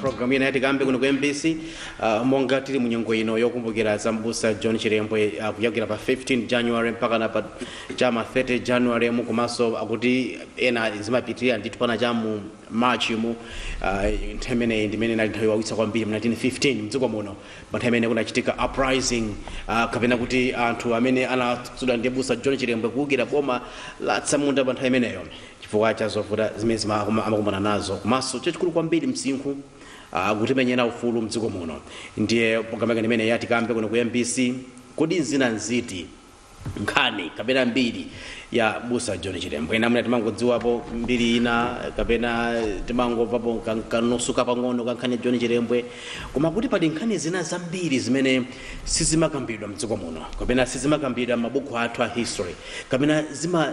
programu ina ya Tikambe kuno ku mbc uh, monga tili munyengo ino yokumbukira za mbusa john chilembwe uh, kuyambira pa 15 january mpakana pa cha m'ma 30 january mu komanso akuti ena zimapitirira ndithu mpakana cha mu March mu, uh, nthawi imeneyi ndi imene inali nthawi yowawitsa kwambiri mu 1915 mdziko muno pa nthawi imene kunachitika uprising uh, kapena kuti anthu amene anatsogozedwa ndi mbusa John Chilembwe kuwukira boma la atsamunda pa nthawi imeneyo chifukwa cha zovuta zimene zima- ama- amakumana nazo komanso chachikulu kwambiri msinkhu uh, kutimenyera ufulu mdziko muno ndiye programu yake imeneyi ya Tikambe kuno ku MBC kodi nzina nziti nkhani kapena mbiri ya mbusa john chilembwe ena amene timangodziwapo mbiri ina kapena timangomvapo ka- kanusu kapang'ono ka nkhani ya john chilembwe koma kuti pali nkhani zina zambiri zimene sizimakambidwa mdziko muno kapena sizimakambidwa m'mabuku athu a history kapena zima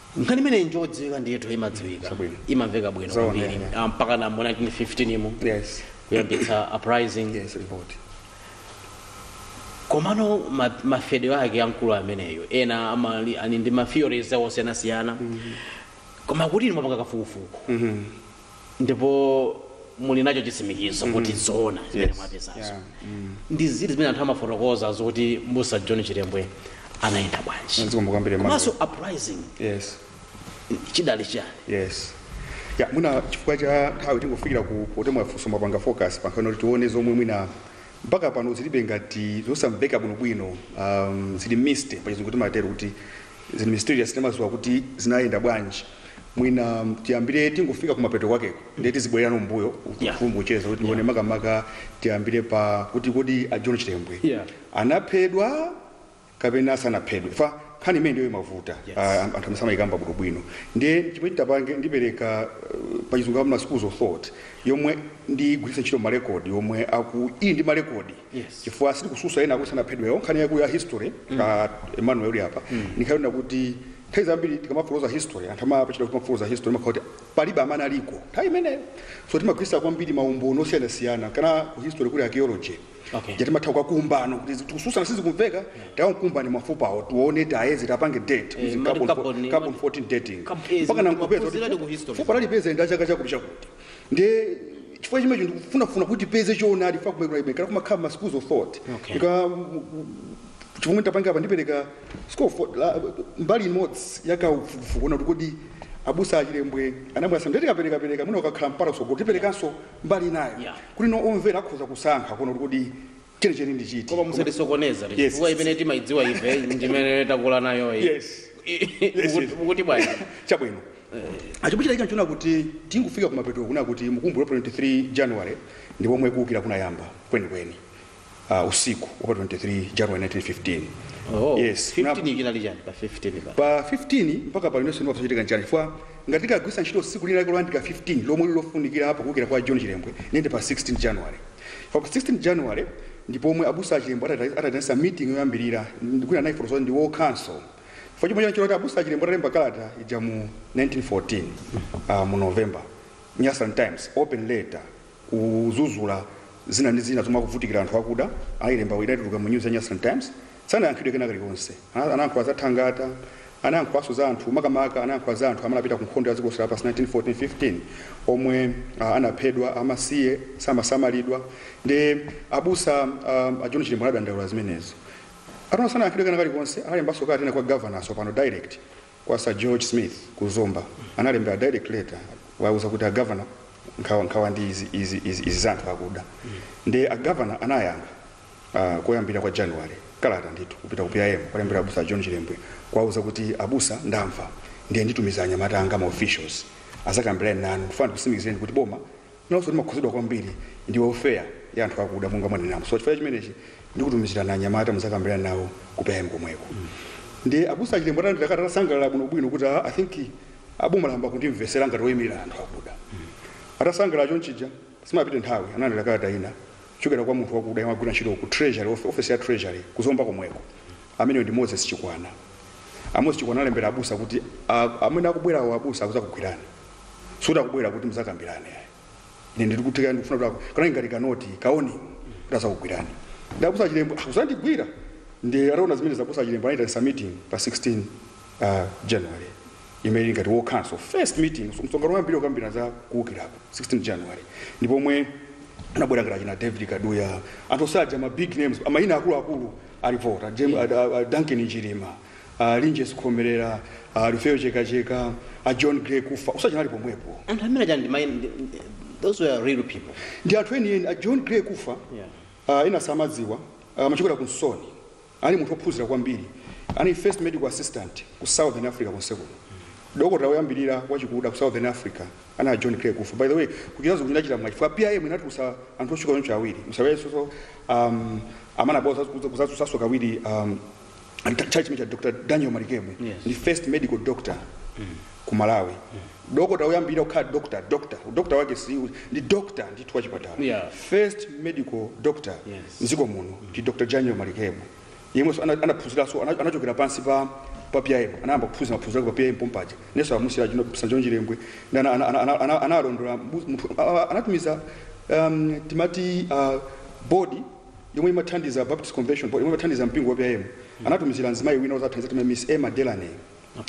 nkhani imeneyi njodziwika ndithu imadziwika Chabwino. imamveka bwino Zoona, kwambiri yeah. Ah, mpakana mu 1915 mu yes kuyambitsa uprising yes report komano ma- mafedwe ake amkulu ameneyo ena amali ali ndi ma theories a osiyanasiyana koma kuti inu mwapanga kafukufuku ndipo muli nacho chitsimikizo kuti zoona zimene Yes. mwapezazo Yeah. Mm. ndi ziti zimene anthu amafotokoza zoti mbusa john chilembwe anayenda bwanji Zikomo kwambiri mwina. komanso uprising Yes. chidali chiyani Yes. Ya mwina chifukwa cha nthawi tingofikira ku kuti mwafunsa mwapanga focus pa nkhani kuti tione zomwe mwina mpaka pano zilibe ngati zosamveka bwinobwino um, zili mist pachizungu timatero kuti zili mysterious sitimadziwa kuti zinayenda bwanji mwina um, tiyambire tingofika kumapeto kwakeko ndiye tizibwererano mbuyo Yeah. umu mu kucheza kuti tione makamaka tiyambire pa kuti kodi a john chilembwe Yeah. anaphedwa kapena sanaphedwe chifukwa nkhani imeneyi ndiyo imavuta Yes. Ah, anthu amene samayikamba bwino bwino ndiye chimene titapange ndipereka uh, pachizungu amati ma schools of thought yomwe ndigwiritsa ntchito marekodi yomwe aku iyi ndi marekodi Yes. chifukwa sili kutsutsa ena akuti anaphedwa nkhani yaku ya history a emmanuel uli apa ndimaona kuti nthawi zambiri tikamafotokoza history anthu amapachita kumafotokoza history mumakhala kuti palibe amene analiko nthawi imeneyo so timagwiritsa kwambiri maumboni osiyanasiyana kana ku history kuli archaeology Okay. Yoti mumatha kukakumba kuti tikutsutsana sizikumveka takumbani mafupa awo tione tayeze tapange date Eh, izi amati carbon fo- carbon- carbon 14 dating Kapezi, mpaka kupeza ma puzzle ndi ku history. fupa talipezali nda chaka chakuti chakuti ndiye chifukwa chimecho ndikufunafuna kuti tipeze choonadi chifukwa kumekula imekala kumakhala ma schools of thought Okay. ine chomwe nditapange apa ndipereka school of thought la- mbali imodzi ya kafukufuku wonena kuti kodi abusa a chilembwe anaphedwa so ndiye tikaperekapereka mwina ukakhala mpata kutsogolo tiperekanso mbali inayo Yeah. kuti no omvera akhoza kusankha kuona kuti kodi chenicheni ndi chiti koma musatisokoneza Yes. chifukwa imene timaidziwa ife ndimene takula nayo iyi. Yes. I- Yes, mukuti- yes. mukuti bwanji chabwino achimuchita icho nchoona kuti tikufika kumapeto kunena kuti mukumbula 23 january ndi pomwe kuukira kunayamba kwenikweni uh, usiku wa pa 23 January 1915 Oh, yes 15 chinali chani pa 15 pa pa 15 mpaka pano inenso ndikusachitika nchani chifukwa ngati tikagwiritsa ntchito tsiku lina lake loyandikira 15 lomwe lilofunikira apo kuwukira kwa john chilembwe nende pa 16 january pa pa 16 january ndi pomwe abusa a chilembwe atata- ataitanisa meeting yoyambirira ndikuina naye fotozo ndi war council chifukwa chomwe chanchoti abusa a chilembwe atalemba kalata ija mu 1914 uh, mu november nyasaland times open letter kuzuzula zina ndi zina zomwe akuvutikira anthu akuda ayilembawo idatuluka mu news ya nyasaland times sanayankhidwe kena kalikonse Ana- anayankhula za thangata anayankhulanso za anthu makamaka anayankhula za anthu amene anapita ku nkhondo ya dziko lonse lapansi 1914-15 omwe ah, anaphedwa amasiye samasamalidwa ndi abusa ah, a john chilembwe anadandaula zimenezo ataona sanayankhidwe kena kalikonse analembanso kalata ina kwa governor pano direct kwa Sir George Smith ku Zomba analembera direct letter kuwauza kuti a governor nkhawa nkhawa ndi izi izi izi, izi za anthu akuda ndiye a governor anayankha uh, koyambira kwa January kalata ndithu kupita ku PIM kuwalembera abusa John Chilembwe kuwauza kuti abusa ndamva ndiye nditumiza anyamata anga ma officials azakambirane nanu ndifuna ndikusimikizireni kuti boma limakhudzidwa kwambiri ndi welfare ya anthu akuda monga mwanenamo so chifukwa cha chimenechi ndikutumizirani anyamata muzakambirane nawo ku PIM komweko ndiye abusa a chilembwe atalandira kalata anasangalala bwinobwino kuti "Ah, i think boma layamba kundimvesera ngati woyimirira anthu akuda atasangalala chonchija sipanapite nthawi analandira kalata ina kuchokera kwa munthu wakuda yemwe amagwira ntchito ku treasury of- office ya treasury ku zomba komweko ameneyo ndi moses chikwanje a moses chikwanje analembera abusa kuti "Ah, amene akubwerawo abusa akuzakugwirani sikuti akubwera kuti muzakambirane ayi ine ndikutika ndikufuna kuti ako- kanali ngati kanoti ka warning kuti azakugwirani ndiye abusa a chilembwe akuzandigwira ndiye ataona zimenezo abusa a chilembwe anayitanisa meeting pa 16 uh, january imene ili ngati war council first meeting so msonkhano woyambirira wokambirana za kuwukirako 16 january ndipo omwe anabwera ngati achina david kaduya anthu onse aja ma big names mayina akuluakulu analipo a Jem- a- a- a- duncan njirima a linjesi khomerera a lufeyo chekacheka a john gray kufa onse analipo pomwepo anthu amene aja ndi mai- ndi- ndi- those were real people ndi anthu enieni a john gray kufa Yeah. ah, ena samadziwa ah, amachokera ku nsoni anali munthu ophunzira kwambiri anali first medical assistant ku southern africa konse kuno dokotala woyambirira wachikuda ku southern africa anali a john gray kufa by the way kuchitazo kuchitachita mwa chifukwa PIM inatulutsa anthu otchuka choncho awiri musawesoso um, amana bao kuzatsutsaso kawiri um, nthawi chimene cha dr daniel malikebu Yes. ndi first medical doctor ku malawi dokota woyambirira kukhala doctor doctor udokota wake si ndi doctor ndithu wa chipatala Yeah. first medical doctor Yes. mdziko muno ndi dr daniel malikebu yemwenso ana- anaphunziranso ana- anachokera pansi pa pa pim anayamba kuphunzira maphunziro ake pa pim pompaja nenso abusa john chilembwe ndi ana- ana- ana- ana- ana- analondola mbu- munthu- a- a- anatumiza um, timati uh, body yomwe imathandiza a Baptist Convention Board, yomwe imathandiza mpingo wa PIM, anatumizira mzimayi wina wozathandiza timati Miss Emma Delaney.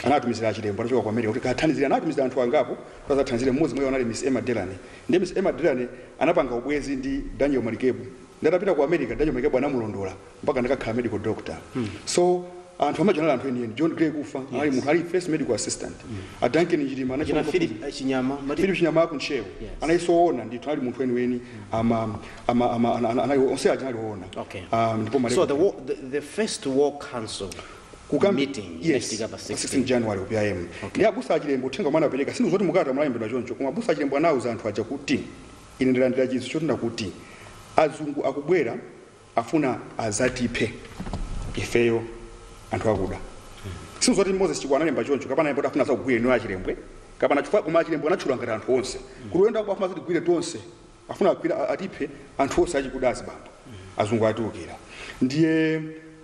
Anatumizira achilembwe anachoka ku America kuti akathandizire. Anatumizira anthu angapo kuti azathandizire mmodzi mwa iwo anali Miss Emma Delaney. Ndiye Miss Emma Delaney anapanga ubwenzi ndi Daniel Malikebu. Ndiye atapita ku America, Daniel Malikebu anamulondola mpaka anakakhala medical doctor. So anthu amaja anali anthu enieni. John Gray Kufa anali munthu anali first medical assistant. A Duncan Njilima Jina anachita Philip eh, Chinyama. Mati- Philip Chinyama aku Ntcheu Yeah. anali woona ndithu anali munthu weniweni ama ama, ama, ana- ana- anali onse aja anali oona Okay. um, ndipo male- So the, wa- the, the first war council Kukambi- meeting yes, inachitika pa 16 16. january ku pim okay. ndi abusa achilembwe uthenga omwe anapereka sindikuti zoti mukalata munalembedwa choncho koma abusa achilembwe anauza anthu aja kuti ine ndalandira chinthu choti ndakuti azungu akubwera afuna azatiphe ifeyo anthu akuda sindikuti zoti moses chikwa analemba choncho kapena yemboti afuna azakugwire inu achilembwe kapena chifukwa koma achilembwe anatchula ngati anthu onse kuti uyenda kuba afuna azatigwire tonse Afuna agwire atiphe anthu onse achikuda azibambo azungu atiukira ndiye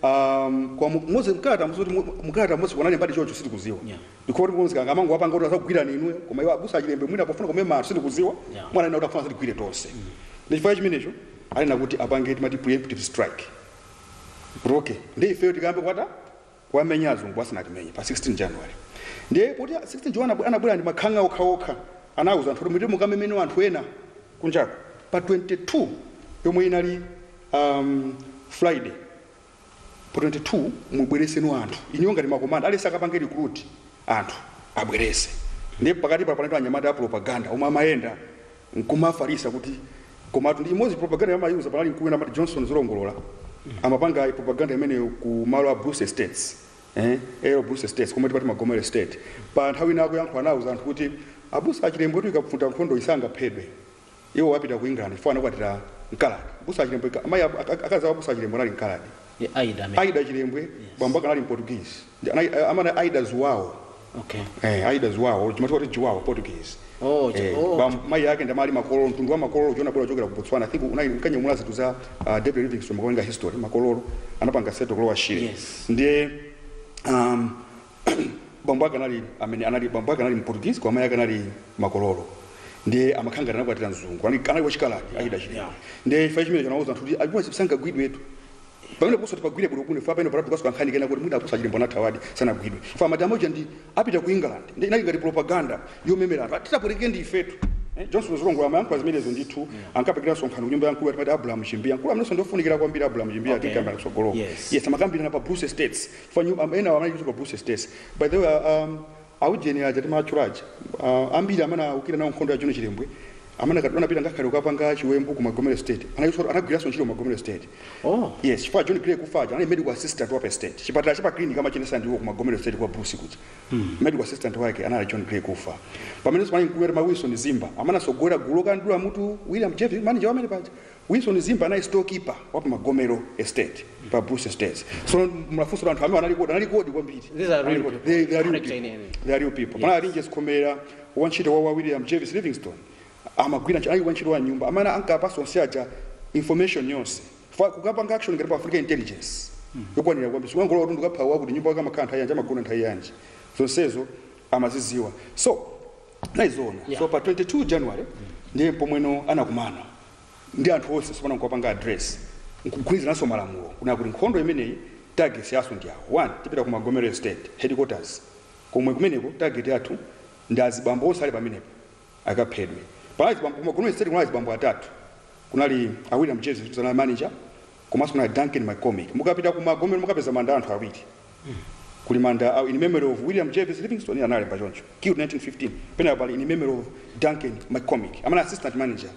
um, kwa mu- mose mkalata mose kuti mu- mkalata mose kunali mbali chocho sitikuziwa Yeah. ndikuwa kuti mzikanga amangowapanga kuti azakugwirani inuyo koma iwo abusa achilembwe mwina pofuna kumema anthu sitikuziwa Yeah. ananena kuti afuna azatigwire tonse ndi chifukwa chimenecho anena kuti apange timati preemptive strike yoti ndi ifeyo tikayambe kwata kuwamenya azungu asanatimenye pa 16 January ndiye poti 16 Jan anabwera ndi makhang'a okhaokha anauza anthu kuti mupite mukameme anthu ena kunjako pa 22 yomwe inali um, Friday pa 22 mubwereseno anthu inuyo ngati makomanda aliyense akapange recruit anthu abwerese ndiye pakatipa panali anyamata a propaganda omwe amayenda nkumafalisa kuti komatu ndi imodzi propaganda yamayuza panali mkulu wina amati johnson zolongolola amapanga propaganda imeneyo ku malo a bruce estates eh, a l bruce estates komwe timati magomero estate pa nthawi ina akuyankhula anauza anthu kuti abusa achilembwe kuti ikavuta nkhondo sangaphedwe iwo apita ku england chifukwa anakwatira mkaladi abusa achilembwe ika- amayi ab- ak- ak- akazi abusa achilembwe anali mkaladi Ndi Aida amene. Aida Chilembwe bambo ake anali Mportuguese. Ndi anai- eh, Amati Aida Zuwawo. Okay. Eh, Aida Zuwawo, chimatchedwa kuti Juwawo, Portuguese. Oh, chi- Eh, oh. bam- mayi ake ndi anali makololo, mtundu wa makololo unabwera kuchokera ku Botswana. I think ankanyamula zinthu za ah, David Livingstone mukawerenga history, makololo anapanga settle ku Lower Shire. Yes. Ndiye um, bambo ake anali amene anali bambo ake anali mportuguese koma mai ake anali makololo ndiye amakhala ngati anakwatira mzungu anali anali wachikaladi achida chida yeah. ndiye imfa chimene chinawuza anthu kuti abuwa sipsanga gwidwetu pamene kuso tipagwire bwino kuno imfa pamene palapo kanso kankhani kena kuti mwina abusa chilembwe anathawadi sanagwidwe ife madama uja ndi apita ku england ndi inali ngati propaganda yomemeza anthu atitapweteke ndi izitu Eh, johnson zolongola amayankhula zimenezo ndithu ankapangira msonkhano kunyumba ya mkulu ankati abraham chimbiya mkulu amenenso ndofunikira kwambiri abraham chimbiya Okay. timukambira kutsogoloko Yes. yes amakambirana pa bruce estates Fanyu am- enawo anali kuchitwa Bruce Estates. By the way, uh, um, aujeni aja timatchula aja uh, ambiri amene anaukira nawo nkhondo ya John Chilembwe amene anakati anapita ngakhale kukapanga chiwembu ku Magomero Estate ena a iwo anagwiranso ntchito ku Magomero Estate. Oh. Yes, chifukwa John Gray Kufa aja anali medical assistant wa pa estate. Chipatala cha pa clinic amachiyendetsa ndiwo ku Magomero Estate kwa Bruce kuja. Medical assistant wake anali John Gray Kufa. Pamene sipani mkulu amati Wilson Zimba amene anatsogolera gulu lokadula mutu William Jervis manager wa amene paja. Wilson Zimba anali store keeper wa pa Magomero estate pa Bruce Estates. So mulafunso la anthu amene anali kodi anali kodi kwambiri. These are real people. They, they are real Correct, people. Ine. They are real people. Yes. Panali Linjes Khomera wantchito wa wa William Jervis Livingstone amagwira ntchito ayi wantchito wa nyumba amene ankapatsa onse aja information yonse Fa- kukapanga action ngati panafunika intelligence yokwanira kwambiri sikungolowa kuti tikapha wakuti nyumba yake amakhala nthawi yanji amagona nthawi yanji zonsezo amazidziwa so naizoona Yeah. so pa 22 January ndiye pomwe no anakumana ndi anthu onse tsopano nkupanga address nkugwirizananso malamulo kunena kuti nkhondo imeneyi targets yathu ndi awa 1 tipita ku magomero estate headquarters komwe kumeneko target yathu ndi azibambo onse ali pamenepo akaphedwe panali azibambo ku magomero estate kunali azibambo atatu kunali a william jervis anali manager komanso kunali duncan mccormick mukapita ku magomero mukapeza manda a anthu awiri Kuli manda a In Memory of William Jervis Livingstone, ndiye analemba choncho, killed 1915, penako pali In Memory of Duncan McCormick, amene assistant manager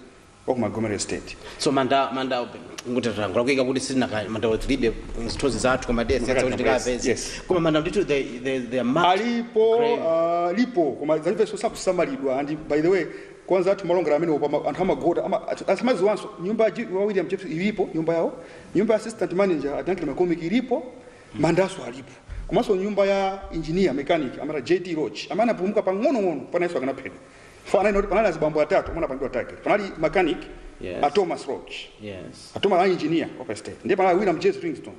wa ku Magomero Estate. so manda manda ngutatango lakuika kuti sina ka- manda wa tilibe zithunzi zathu koma tiyesetsa kuti tikapeze Yes. koma manda ndithu they they they are marked alipo grave. ah, lipo koma alipenso sakusamalidwa and by the way kwa anzathu malongera amene mwina anthu amagoda ama- athu- samadziwanso nyumba ya G- wa william jervis ilipo nyumba yawo nyumba ya assistant manager a duncan mccormick ilipo mandanso alipo komanso nyumba ya engineer mechanic amati JT Roach amene anapulumuka pang'onong'ono paja iyenso akanaphedwa Fa- analinso panali azibambo atatu omwe anapangidwa target panali mechanic Yes. a Thomas Roach Yes. a Thomas Roach engineer wa pa estate ndiye panali William Jervis Livingstone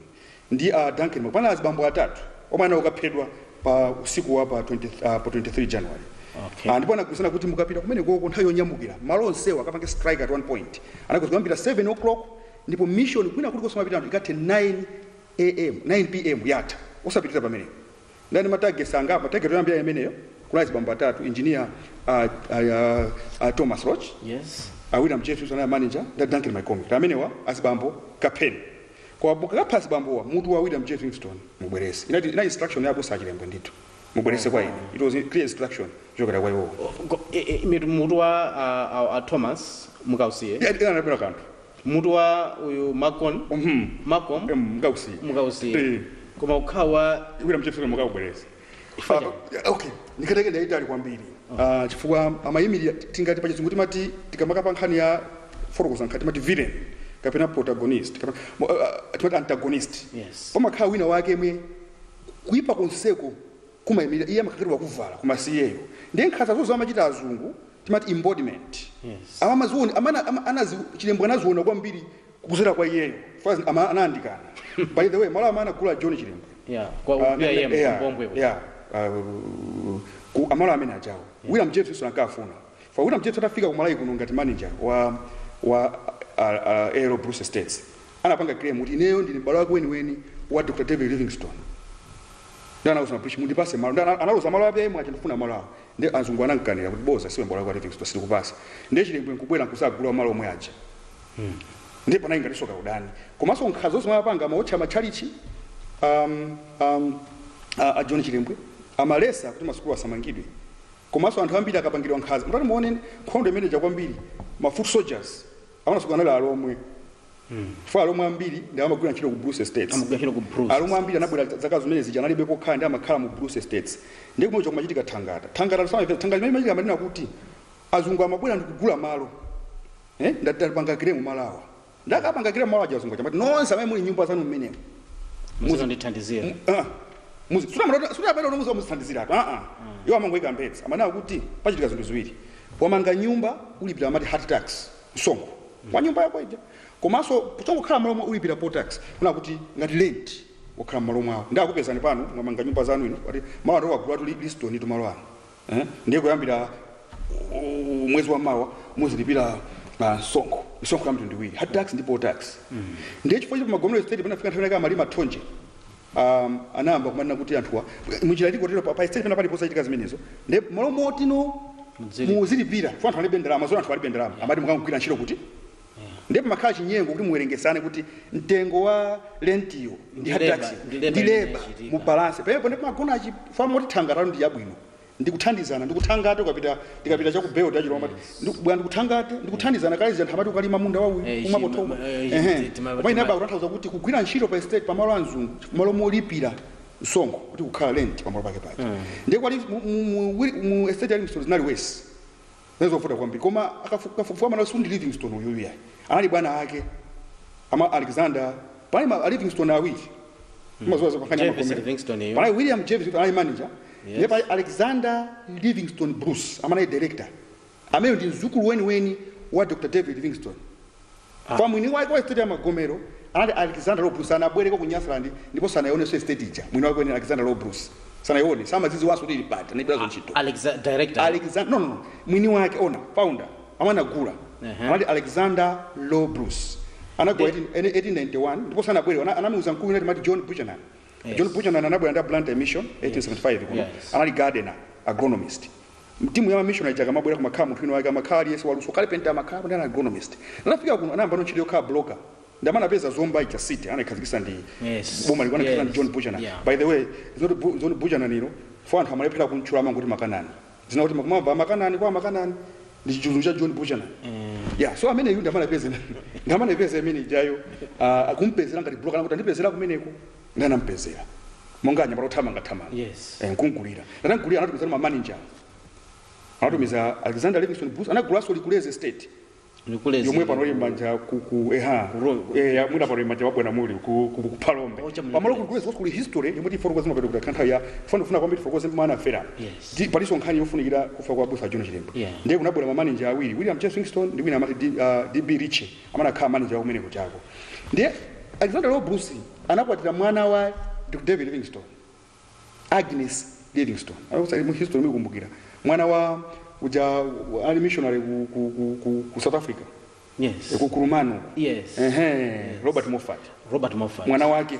ndi a Duncan Mc- panali azibambo atatu omwe anali okaphedwa pa usiku wa pa 20, uh, pa 23 January Okay. Ah, ndipo anagwirizana kuti mukapita kumeneko nthawi yonyamukira malo onsewa akapange strike at one point anagwirizana kuyambira 7 o'clock ndipo mission kwina kulikonse amapita anthu ikathe 9 AM, 9 PM yatha osapitilira pamenepo. Ndiye anali ndi ma targets angapo, target yoyambira inali imeneyo, kunali azibambo atatu, engineer a, a, a, a Thomas Roach, Yes. a William Jervis anali manager, ndi a Duncan MacCormick. Ndiye amenewa azibambo kapheni. Koma mukakapha azibambowa mutu wa William J. Livingstone mubwerese. Inali inali instruction ya abusa a Chilembwe ndithu. Mubwerese kwa ine. It was a clear instruction kuchokera kwa iwowo. Go- e- e- mitu- Mutu wa a- a- a Thomas mukausiye. Ena anabwera kanthu. Mutu wa uyu MacCorm MacCormick Em, mukausiye. mukausiye Eh. koma ukhale wa Tikwira mchefere mukaubwerese. Chifukwa Ah, chani? ah, okay. Nkhani yake ndi yaitali kwambiri. Ah, chifukwa amayimirira tingati pachizungu timati tikamaka pa nkhani yofotokoza nkhani timati villain kapena protagonist kapena mo- ah, ah, timati antagonist. Yes. Pamakhala winawake yemwe kuipa konseko kumayimira iye amakhala kuti wakuvala koma si iyeyo. Ndiye nkhanza zonse amachita azungu timati embodiment Yes. ama amaziona amana ama, a Chilembwe anaziona kwambiri kuzera kwa iyeyo first amayandikana by the way malo amene anakula John Chilembwe Yeah, kwa Ah, upia ne- yemu yeah, ku Mbombwe kuti. yeah, ah, ku malo amene awawo William Jervis Livingstone ankafuna chifukwa William Jervis atafika ku Malawi kuno ngati manager wa wa A L Bruce Estates anapanga claim kuti ineyo ndi mbale wake weniweni wa Dr David Livingstone ndiye anauza azungu mundipase malo ndiye analoza malo a Chilembwe aja ndifuna malo awo Ndiye azungu anamkanira kuti boza si mbale wako David Livingstone sitikupasa. Ndiye Chilembwe nkubwera nkuzagula malo omwe aja. Ndiye panali ngatinso kaudani. Komanso nkhanza zomwe amapanga amaotcha matchalichi um, um, a, a John Chilembwe amalesa kuti masukulu asamangidwe. Komanso anthu ambiri ankapangidwa nkhanza. Mutati muone nkhondo imene ija kwambiri ma foot soldiers amene anatsogola anali Alomwe chifukwa Alomwe ambiri ndi amene amagwira ntchito ku bruce estates Amagwira ntchito ku Bruce Alomwe ambiri anabwera zaka zimene zija analibe pokhala ndiye amakhala mu bruce estates ndi kumene kumachitika thangata thangata samapeza thangata imene imachitika amanena kuti azungu amabwera ndi kugula malo eh ndiye atawapanga claim malowa ndiye akapanga claim malo aja azungu aja amati nonse amene muli nyumba zanu mmenemo muzindithandizira Ah, muzi- sura mara- sura amene unomuza muzithandizira apa aa iwo amangoika mbedza amanena kuti pachitika zinthu ziwiri wamanga nyumba ulipira amati hut tax msonkho wa nyumba yako ija komanso kungokhala malowo ulipira poll tax kunena kuti ngati rent wakhala mmalo mwawo ndiye akupezani pano mwamanga nyumba zanu ino kuti malo anu wagula ndi Livingstone tu malo anu eh? ndiye kuyambira u- mwezi wa mawa muzilipira ah, msonkho misonkho ya mtundu iwiri hut tax ndi poll tax ndiye chifukwa choti Magomero estate panafika nthawi yake amalima thonje a, anayamba kumanena kuti anthuwa munjira ili kotero pa- pa estate pena paliponse zimachitika zimenezo nde malo moti inu Mudzilipira. muzilipira chifukwa anthu alibe ndalama zona anthu alibe ndalama amati mukagwire ntchito kuti nde pamakhala chinyengo kuti muwerengesane kuti mtengo wa lentiyo ndi Ndi leba, hut tax ndi leba ndi imene leba inachitika. mu balance pamenepo nde pamagona chifukwa amati thangatayo ndi yabwino ndikuthandizana ndikuthangata ukapita ndikapita chaku belt chilo amati yes. bwa ndikuthangate ndikuthandizana kale zinthu amati ukalima munda wa uyu eh, umapo thoko eh, ehe koma inayamba kutanthauza kuti kugwira ntchito pa estate pa malo a azungu malo molipira msonkho kuti kukhala rent pa malo pake pake mm. ndiye kwali mu estate ali msolo zinali wesi Zinali zovuta kwambiri. Koma akafukufuku amanena kuti si ndi Livingstone uyuyu yayi. Anali bwana wake a ma Alexander. Panali ma Livingstone awiri. Mazuwa zokafanya Jervis magomera. Livingstone yo. Panali William Jervis kuti anali manager. Yes. Ndipo panali Alexander Livingstone Bruce amene anali director. Amene ndi mzukulu weniweni wa Dr. David Livingstone. Koma mwini wake wa estate ya Magomero anali Alexander Low Bruce sanabwereko ku Nyasaland ndipo sanaionenso estate ija. Mwini wake weniweni Alexander Low Bruce sanaione samaidziwanso kuti ili pati anaibweranso ntchito. Alexa, director. Alexander no no no mwini wake owner founder amene anagula Ehe. anali Alexander Low Bruce anagula 18 1891 ndipo sanabwere ana- anamuuza mkulu wina timati John Buchanan Yes. John Buchanan anabwera ndi a Blantyre Mission 1875 kuno Yes. anali gardener agronomist Mtimu ya ma missionary ija akamabwera kumakhala munthu wina wake amakhala aliyense waluso carpenter amakhala anali agronomist. Atafika kuno anayambano ntchito yokhala broker ndi amene anapeza Zomba ija city anaikhazikisa ndi Yes. boma liko anaikhazikisa ndi Yes. John Buchanan. Yeah. By the way, it's not Bu- John Buchanan ilo loti anthu amalephera kumtchula amangoti makanani. Dzina loti mukumamva makanani kwa makanani ndi chizungu cha John Buchanan. Yeah, so amene yu ndi amene anapeza ndi amene anapeza imene ijayo ah, akumpezera ngati broker anati kandipezere kumeneko. Ndiye anamupezera monga anyamata othamanga thamanga. Yes. Eh, nkumgulira. Anamgulira anatumiza ma manager. Anatumiza Alexander Livingstone Bruce anagulanso Likulezi Estate. Likulezi. Yomwe pano ili mmanja ku ku eha. Ro- Eh, ya- mwina pano ili mmanja mwa bwana Mulli ku ku, ku Phalombe. Ocha Mulli Pamalo ku Likulezi was kuli history yomwe tifotokoza mapeto ake kuti kanthawi ya funa funa kwambiri tifotokoze mmene anafera. Yes. Ndi palinso nkhani yofunikira kufa kwa Busa John Chilembwe. Yeah. Ndiye kunabwera ma manager awiri William Jervis Livingstone ndi wina amati D- ah, DB Ritchie. amene anakhala manager wa kumene kujako ndiye Alexander Low Bruce anakwatira mwana wa Dr. David Livingstone Agnes Livingstone Akusa- mu history mukumbukira mwana wa uja wa- anali missionary ku, ku, ku, ku, ku South Africa yes ku Kurumano yes Ehe, Robert Moffat Robert Moffat mwana wake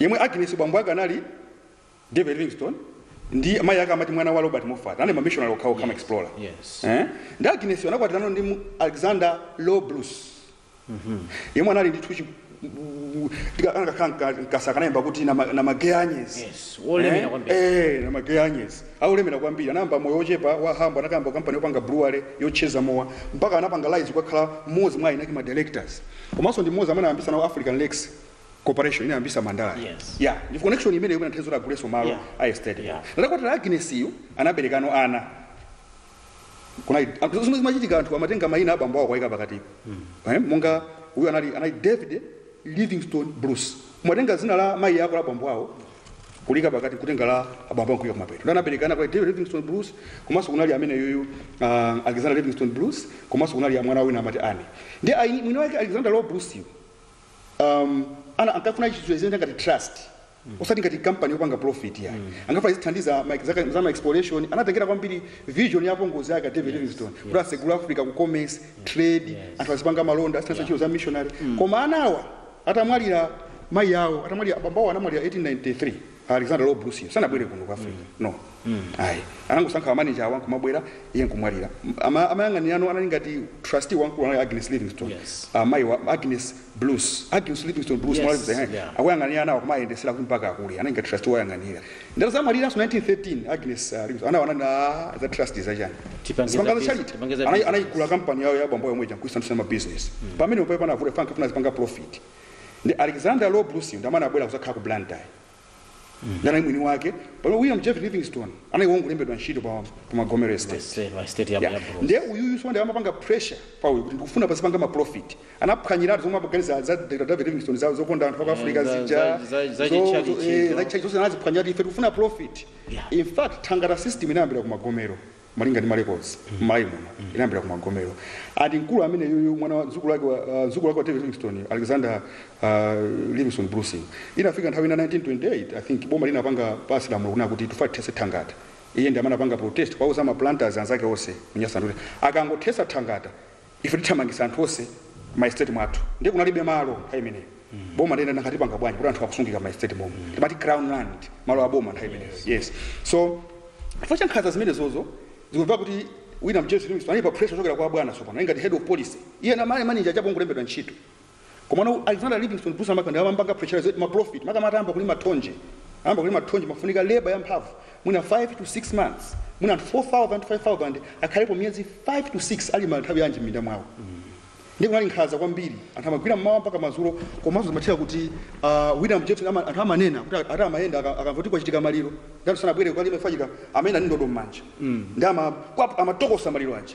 yemwe Agnes bambo ake anali David Livingstone ndi mayi ake amati mwana wa Robert Moffat anali mamishonari okhaokha ma explorer yes. eh? ndi Agnes anakwatirana ndi mu- Alexander Low Bruce yemwe anali Scottish koma sikunayambe kuti na ma- na magay anyes Yes, wolemera kwambiri. Eh, na magay anyes olemera kwambiri anayamba moyo wochepa wa humble anakayamba kampani yopanga brewery yofulula mowa mpaka anapanga rise kukakhala mmodzi mwa enake ma directors komanso ndi mmodzi amene anayambisa nawo African Lakes Corporation inayambisa Mandala yo. Yes. Yeah, ndi connection imeneyo imene inathandiza kuti agulenso malo Yeah. a estate. Yeah. Nde atakwatira Agnes yu anaberekano ana. Kunali zinthu zomwe zimachitika anthu amatenga mayina abambo awo kwaika pakati. Eh, monga uyu anali anali David Livingstone Bruce. Kumatenga dzina la mayi ako la bambo awo kulika pakati nkutenga la bambo nkuika kumapeto ndi anabereka ana kwa David Livingstone Bruce komanso kunali amene yuyu uh, Alexander Livingstone Bruce komanso kunali mwana wina amati Anne ndi ayi mwini wake Alexander Low Bruce yu, um, ana ankafuna chinthu chimene ngati trust osati ngati company yopanga profit ya ankafuna izithandiza ma- zaka- za ma exploration anatengera kwambiri vision ya apongozi ake David Livingstone kuti atsegule Africa ku commerce trade anthu azipanga malonda azithandiza ntchito za missionary koma anawa atamwalira mayi awo atamwalira bambo awo anamwalira 1893 alexander low bruce sanabwere kuno ku africa no ayi anangosankha manager awa nkumabwera iye nkumwalira Ama- amayang'anira ano anali ngati trustee wamkulu anali agnes livingstone Yes. Ah, mayi wa agnes bruce agnes livingstone bruce Yes, mwalazisa, eh, yeah. akuyang'anira anawo kumayendetsera kuti mpaka akule anali ngati trustee wayang'anira Ndiye atazamwaliranso 1913 Agnes ah, Bruce anawana na za trust za chani Tipangiza zipangazo business- charity tipangiza Anai- business. anaitenga kampani yawo ya bambo yomwe ija nkuisandutsa business pamene mpamene panavuta ankafuna azipanga profit ndi Alexander Low Bruce ndi amene anabwera kuzakhala ku Blantyre ndana mwini wake pamene William Jervis Livingstone anali wongolembedwa ntchito pa pa Magomero Estate State- state ya- ya Yeah. Bruce. ndiye uyuyu tsono ndiye amapanga pressure pa uyu kuti ndikufuna pazipanga ma profit Anaphwanyiratu zomwe amaganiza za Dr. David Livingstone za zokonda anthu aku Eh, Africa za- zija. za- za- za zo- chitchalitchi zo- eh, izo. za chitchalitchi zonse anaziphwanyiratu ife tikufuna profit. Yeah. In fact, thangata system inayambira ku magomero malinga ndi marecords m'Malawi muno inayambira ku magomero ndi mkulu amene yuyu mwana wa mdzukulu wake wa- ah, mdzukulu wake wa David Livingstone Alexander ah, Livingstone Bruce inafika nthawi ina 1928 I think boma linapanga pass lamulo kunena kuti tifuna tithetse thangata iye ndi amene anapanga protest kuwauza ma planters anzake onse mNyasaland kuti akangothetsa thangata Ife tithamangisa anthu onse mma estate mwathu ndiye kunalibe malo nthawi imeneyo boma ndiye nanga tipanga bwanji poti anthu akusungika mma estate momo timati crown land malo a boma nthawi imeneyo yes so chifukwa cha nkhanza zimenezozo zikumveka kuti William Jervis Livingstone anali pa pressure kuchokera kwa abwana tsopano iye ngati head of policy iye anali manager chabe wongolembedwa ntchito Komano Alexander Livingstone Bruce ndi amene ankampanga pressurize kuti ma profit makamaka atayamba kulima thonje atayamba kulima thonje imafunika labor yamphamvu mwina 5 to 6 months mwina anthu 4000 to 5000 akhalepo miyezi 5 to 6 alima nthawi yanji m'minda mwawo ndiye kunali nkhanza kwambiri anthu amagwira mmawa mpaka madzulo komanso zimatheka kuti uh, william jervis ama, anthu amanena kuti ati amayenda aka- akamva kuti kwachitika maliro ngati sanabwere kukalima chifukwa chika amayenda ndi ndodo m'manja ndi ama- kwa- amatokosa maliro aja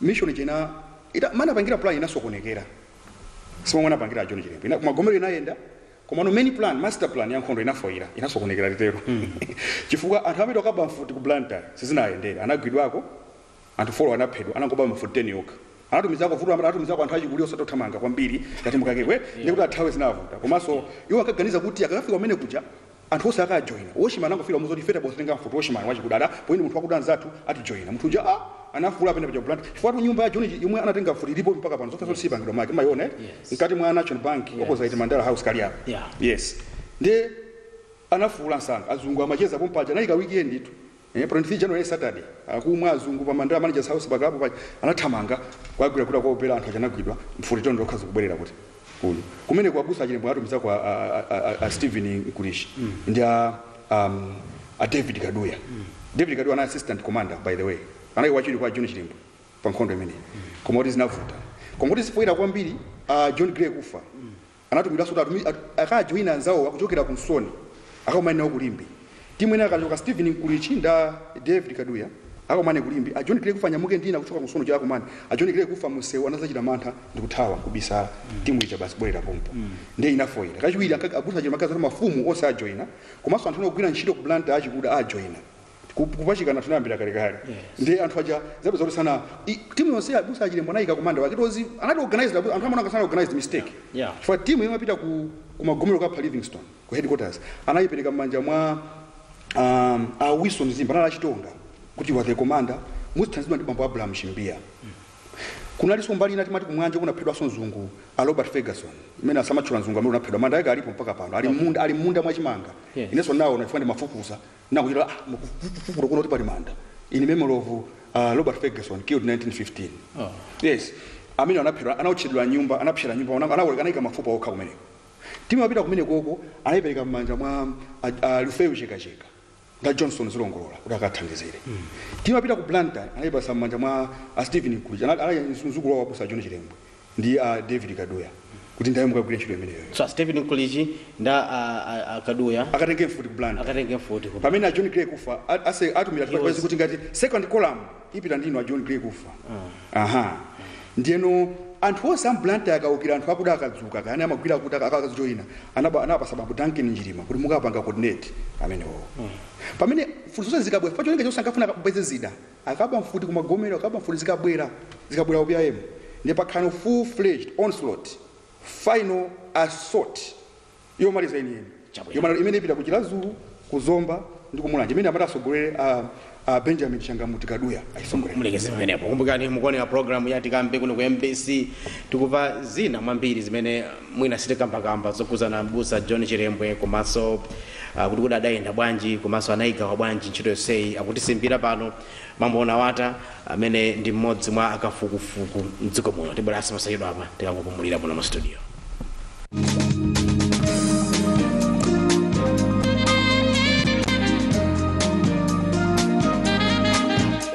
mission ija inapita mmene anapangira plan inasokonekera simomwe anapangira John Chilembwe Ina- magomero inayenda komano main plan master plan ya nkhondo inafoira inasokonekera titero chifukwa anthu amene anakaba mfuti ku Blantyre sizinawayendere anagwidwako anthu four anaphedwa anangoba mfuti 10 yokha anatumizako vuto limene anatumizako anthu achikulire osatothamanga kwambiri ngati nkukakekwe ndi kuti athawe zinavuta komanso iwo ankaganiza kuti akakafika kumene kuja Anthu onse akajoina. Watchman anangofika kumuuza kuti ife tabwera kuzatenga mfuti. Watchman wachikuda ada pointi munthu wakuda anzathu atijoina. Munthu uja a anafuula apenda paja ku Blantyre. Chifukwatu nyumba ya John ija yomwe anatenga mfuti ilipobe mpaka pano. Zofesa zoti siyipangidwa make. Mmayiona eti? Yes. Mkati mwa National Bank Yes. opposite Mandala House kali apa. Yeah. Yes. Ndiye anafuula msanga. Azungu amacheza pompaja anali ka weekend tu. Pa 23 january Saturday akumwa azungu pa Mandala managers house pa club paja anathamanga kukagwira kuti akuwombera anthu aja anagwidwa mfuti toni lokha nkubwerera kuti kuno kumeneko abusa a Chilembwe anatumizako a, a, a, a, a, a Stephen Mkulichi ndi a, um, a David Kaduya David Kaduya anali assistant commander by the way anali wachiwiri kwa John Chilembwe pa nkhondo imeneyi koma kuti zinavuta koma kuti sipoyera kwambiri a John Gray Kufa Anatumidwanso kuti akajoine anzawowa kuchokera ku Nsoni akakumane nawo ku Limbe. Timu ina yakachoka Stephen Mkulichi ndi a David Kaduya akakumane ku Limbe. A John Gray Kufa anyamuke ndi ina kuchoka ku Nsoni kuti akakumane. A John Gray Kufa munsewu anazachita mantha ndikuthawa nkubisala. Timu ija basi kubwelera pompo ndiye inafoila. Kachiwiri abusa a John amaganiza zoti mafumu onse ajoina komanso anthu ena ogwira ntchito ku Blantyre achikuda ajoina. Ku- kupachikana tinayambira kalekale ndi anthu aja zabe zoti sana i- timu yonse ya abusa a chilembwe anayika commander wake tozi anali organized abu- anthu amaona sanali organized mistake Yeah. chifukwa timu yomwe imapita ku ku magomero kukapha livingstone ku headquarters anayipereka m'manja mwa um, a wilson zimba anali achitonga kuti you are the commander muzithandizidwa ndi bambo abraham chimbiya kunalinso mbali ina timati kumwanje kunaphedwanso mzungu a robert ferguson amene samatchula mzungu amene anaphedwa manda yake alipo mpaka pano ali m'munda ali m'munda mwachimanga Yeah. inenso ndawaona chifukwa ndimafufuza na kuchita ah, mu- ku- ku- kufufuta kuona kuti pali manda in memory of uh, robert ferguson killed 1915 yes amene anaphedwa anaotchedwa nyumba anapsera m'nyumba ana- ana- anayika mafupa okha kumeneko timu imapita kumenekoko anayipereka m'manja mwa a- a lifeyo chekacheka ndi a johnson zilongolola kuti akathandizire timu imapita ku blantyre anayipasa m'manja mwa a stephen mkulichi anali mzukulu wawo abusa john chilembwe ndi a david kaduya kuti nthawi mukagwire ntchito imeneyoyo so a stephen mkulichi ndi a, a, a kaduya akatenge mfuti ku blantyre akatenge mfuti ku- pamene a john gray kufa a- ase- atumira He was- tipaizi kuti ngati second column ipita ndi inu a john gray kufa aha ndiyeno anthu onse a m'blantyre akaukira anthu akuda akadzuka kayani amagwira akuti akajoina anapasa bambo duncan njilima kuti mukapanga coordinate amenewo pamene mfuti zonse zikabwera pa cholinga chonse ankafuna apeze zida akaba mfuti ku magomero akaba mfuti zikabwela zikabwela ku pim ndiye pakhaleno full fledged onslaught final assault yomaliza yeniyeni Chabwino. yomaliza imene ipita ku chiradzulu ku zomba ndi ku mulanje imene amati asogolere a, a benjamin changamuti kaduya ayisogolere mulekeze pamenepo kumbukani mukuonera programu ya tikambe kuno ku mbc tikumva zina mwa mbiri zimene mwina sitikambakamba zokhudzana m'busa John Chilembwe komanso uh, kuti kodi adayenda bwanji komanso anayigawa bwanji ntchito yonseyi akutisimbira pano mambo unawata amene ndi mmodzi mwa akafukufuku mdziko muno tibweranso posachedwapa tikangopumulira muno mu studio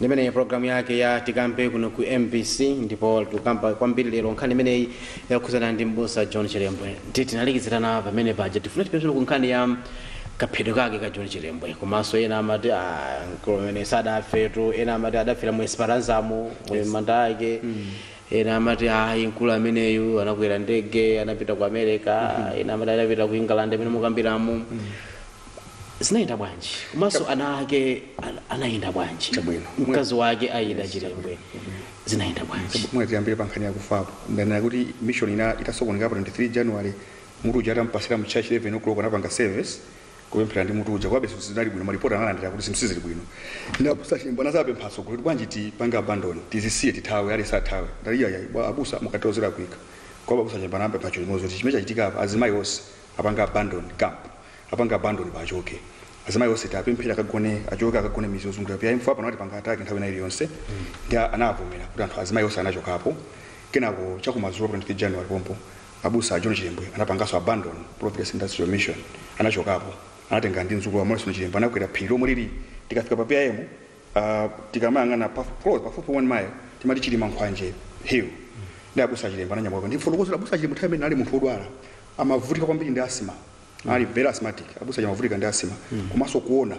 ndi imeneyi programu yake ya tikambe kuno ku mbc ndipo tikukamba kwambiri lero nkhani imeneyi yokhudzana ndi mbusa john chilembwe titi tinalekezerana pamene paja tifuna tipite tsono ku nkhani ya kaphedwe kake ka john chilembwe komanso ena amati ah, mkulu amene sadafetu ena amati adafera mu esperanzamo mu yes. manda ake mm. ena amati ayi mkulu ameneyu anakwera ndege anapita ku america mm -hmm. ena amati adapita ku england mmene mukambiramo mm -hmm. zinayenda bwanji komanso ana ake an- anayenda bwanji Chabwino. mkazi wake ida chilembwe zinayenda bwanji mwina tiyambire pa nkhani yakufapo ndanena kuti mission ija itasokoneka pa 23 january Mutu uja atampatsira mu church 11:00 anapanga service kupemphera ndi mutu uja komabe zinthu sizinali bwino ma report analandira kuti zinthu sizili bwino ndi abusa chilembwe anazapempha atsogoleri kuti bwanji tipange abandon tizisiye tithawe aliyense athawe anati iyayayi bwa abusa mukatero zilakwika komabe abusa chilembwe anapempha chinthu chimodzi kuti chimene chachitika apa azimayi onse apange abandon camp apange abandon pim achoke azimayi onse tapemphera akagone achoke akagone midzi yozungulira pim pano atipanga attack nthawi ina iliyonse ndi anavomera kuti anthu azimayi onse anachokapo kenako chakumadzulo pa 23 january pompo Abusa a John Chilembwe anapanganso abandon Providence Industrial Mission. Anachokapo, anatengana ndi mdzukulu wawo Morrison Chilembwe anakwera phiri lomwe lili tikafika pa PIM, uh, tikamayang'ana pa, close, pafupi 1 mile timati Chilimankhwanje Hill. Ndi abusa a Chilembwe ananyamuka ndifotokoze za abusa a Chilembwe nthawi imeneyo anali munthu wodwala amavutika kwambiri ndi asthma anali very asthmatic abusa Chilembwe amavutika ndi asthma komanso kuona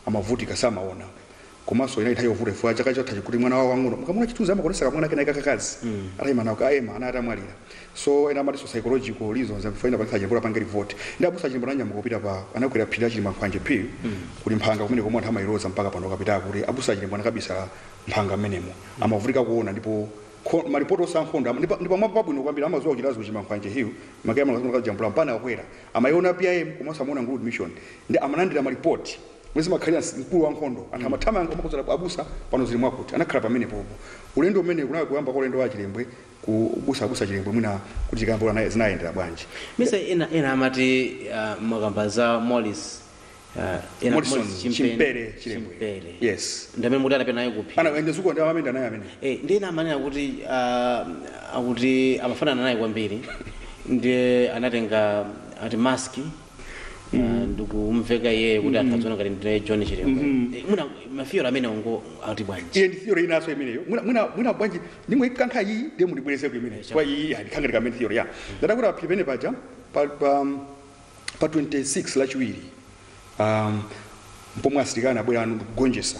amavutika samaona komanso inali nthawi yovuta chifukwa chaka chathachi kuti mwana wawo wang'ono mukamuna chithunzi amaonetsa kamwana kena kakakazi atayima nawo ka emma anali atamwalira so ena amatinso psychological reasons amfuna inapangitsa chilembwe apange revolt ndi abusa chilembwe ananyamuka kupita pa anakwera phiri la chilimankhwanje phiri kuli mphanga kumene komwe anthu amayiloza mpaka pano mukapita kuti abusa chilembwe anakabisala mphanga amenemo amavutika kuona ndipo kho- malipoti a zankhondo ama- ndipa- ndipamwapo pabwino kwambiri amazuwa kuchitazi ku chilimankhwanje hill mukakwera amalazimakazijambula mpana akwera amayiona pim komanso amaona nguludi mission ndi amalandira malipoti Momwe zimakhalira, mkulu wa nkhondo. Anthu amathamanga kumakonzera ku abusa, pano zili mwakuti. Anakhala pamenepopo. Ulendo umenewo kunali kuyamba kwa ulendo wa Chilembwe ku abusa, abusa Chilembwe mwina kuti tikambe kuti anaya, zinayendera bwanji. Ya. Chifukwa ena, ena amati ah, mwakamba za Morris ah, ena Morrison Morris Chimpeni- Chimpere Chilembwe. Chimpere. Yes. Ndi amene amati anapita naye kuphi. Ana ende uko ndi amayenda naye amene. Eh, ndi ena amanena kuti ah, akuti amafanana naye kwambiri ndiye anatenga ati maski ndikumuveka iyeyo kuti anthu adziona ngati ndine john chilembwe Eh, mwina ma theory amenewo ungo ati bwanji iye ndi theory inaso imeneyo mwina mwina mwina bwanji ndingoikankha iyi ndiye mundibwerezeko imeneyo kwa iyi yani kukhala ngati imene theory ya ndanga kuti paphiri penepaja pa pa pa 26 lachiwiri um pomwe asilikali anabwerano ndikugonjesa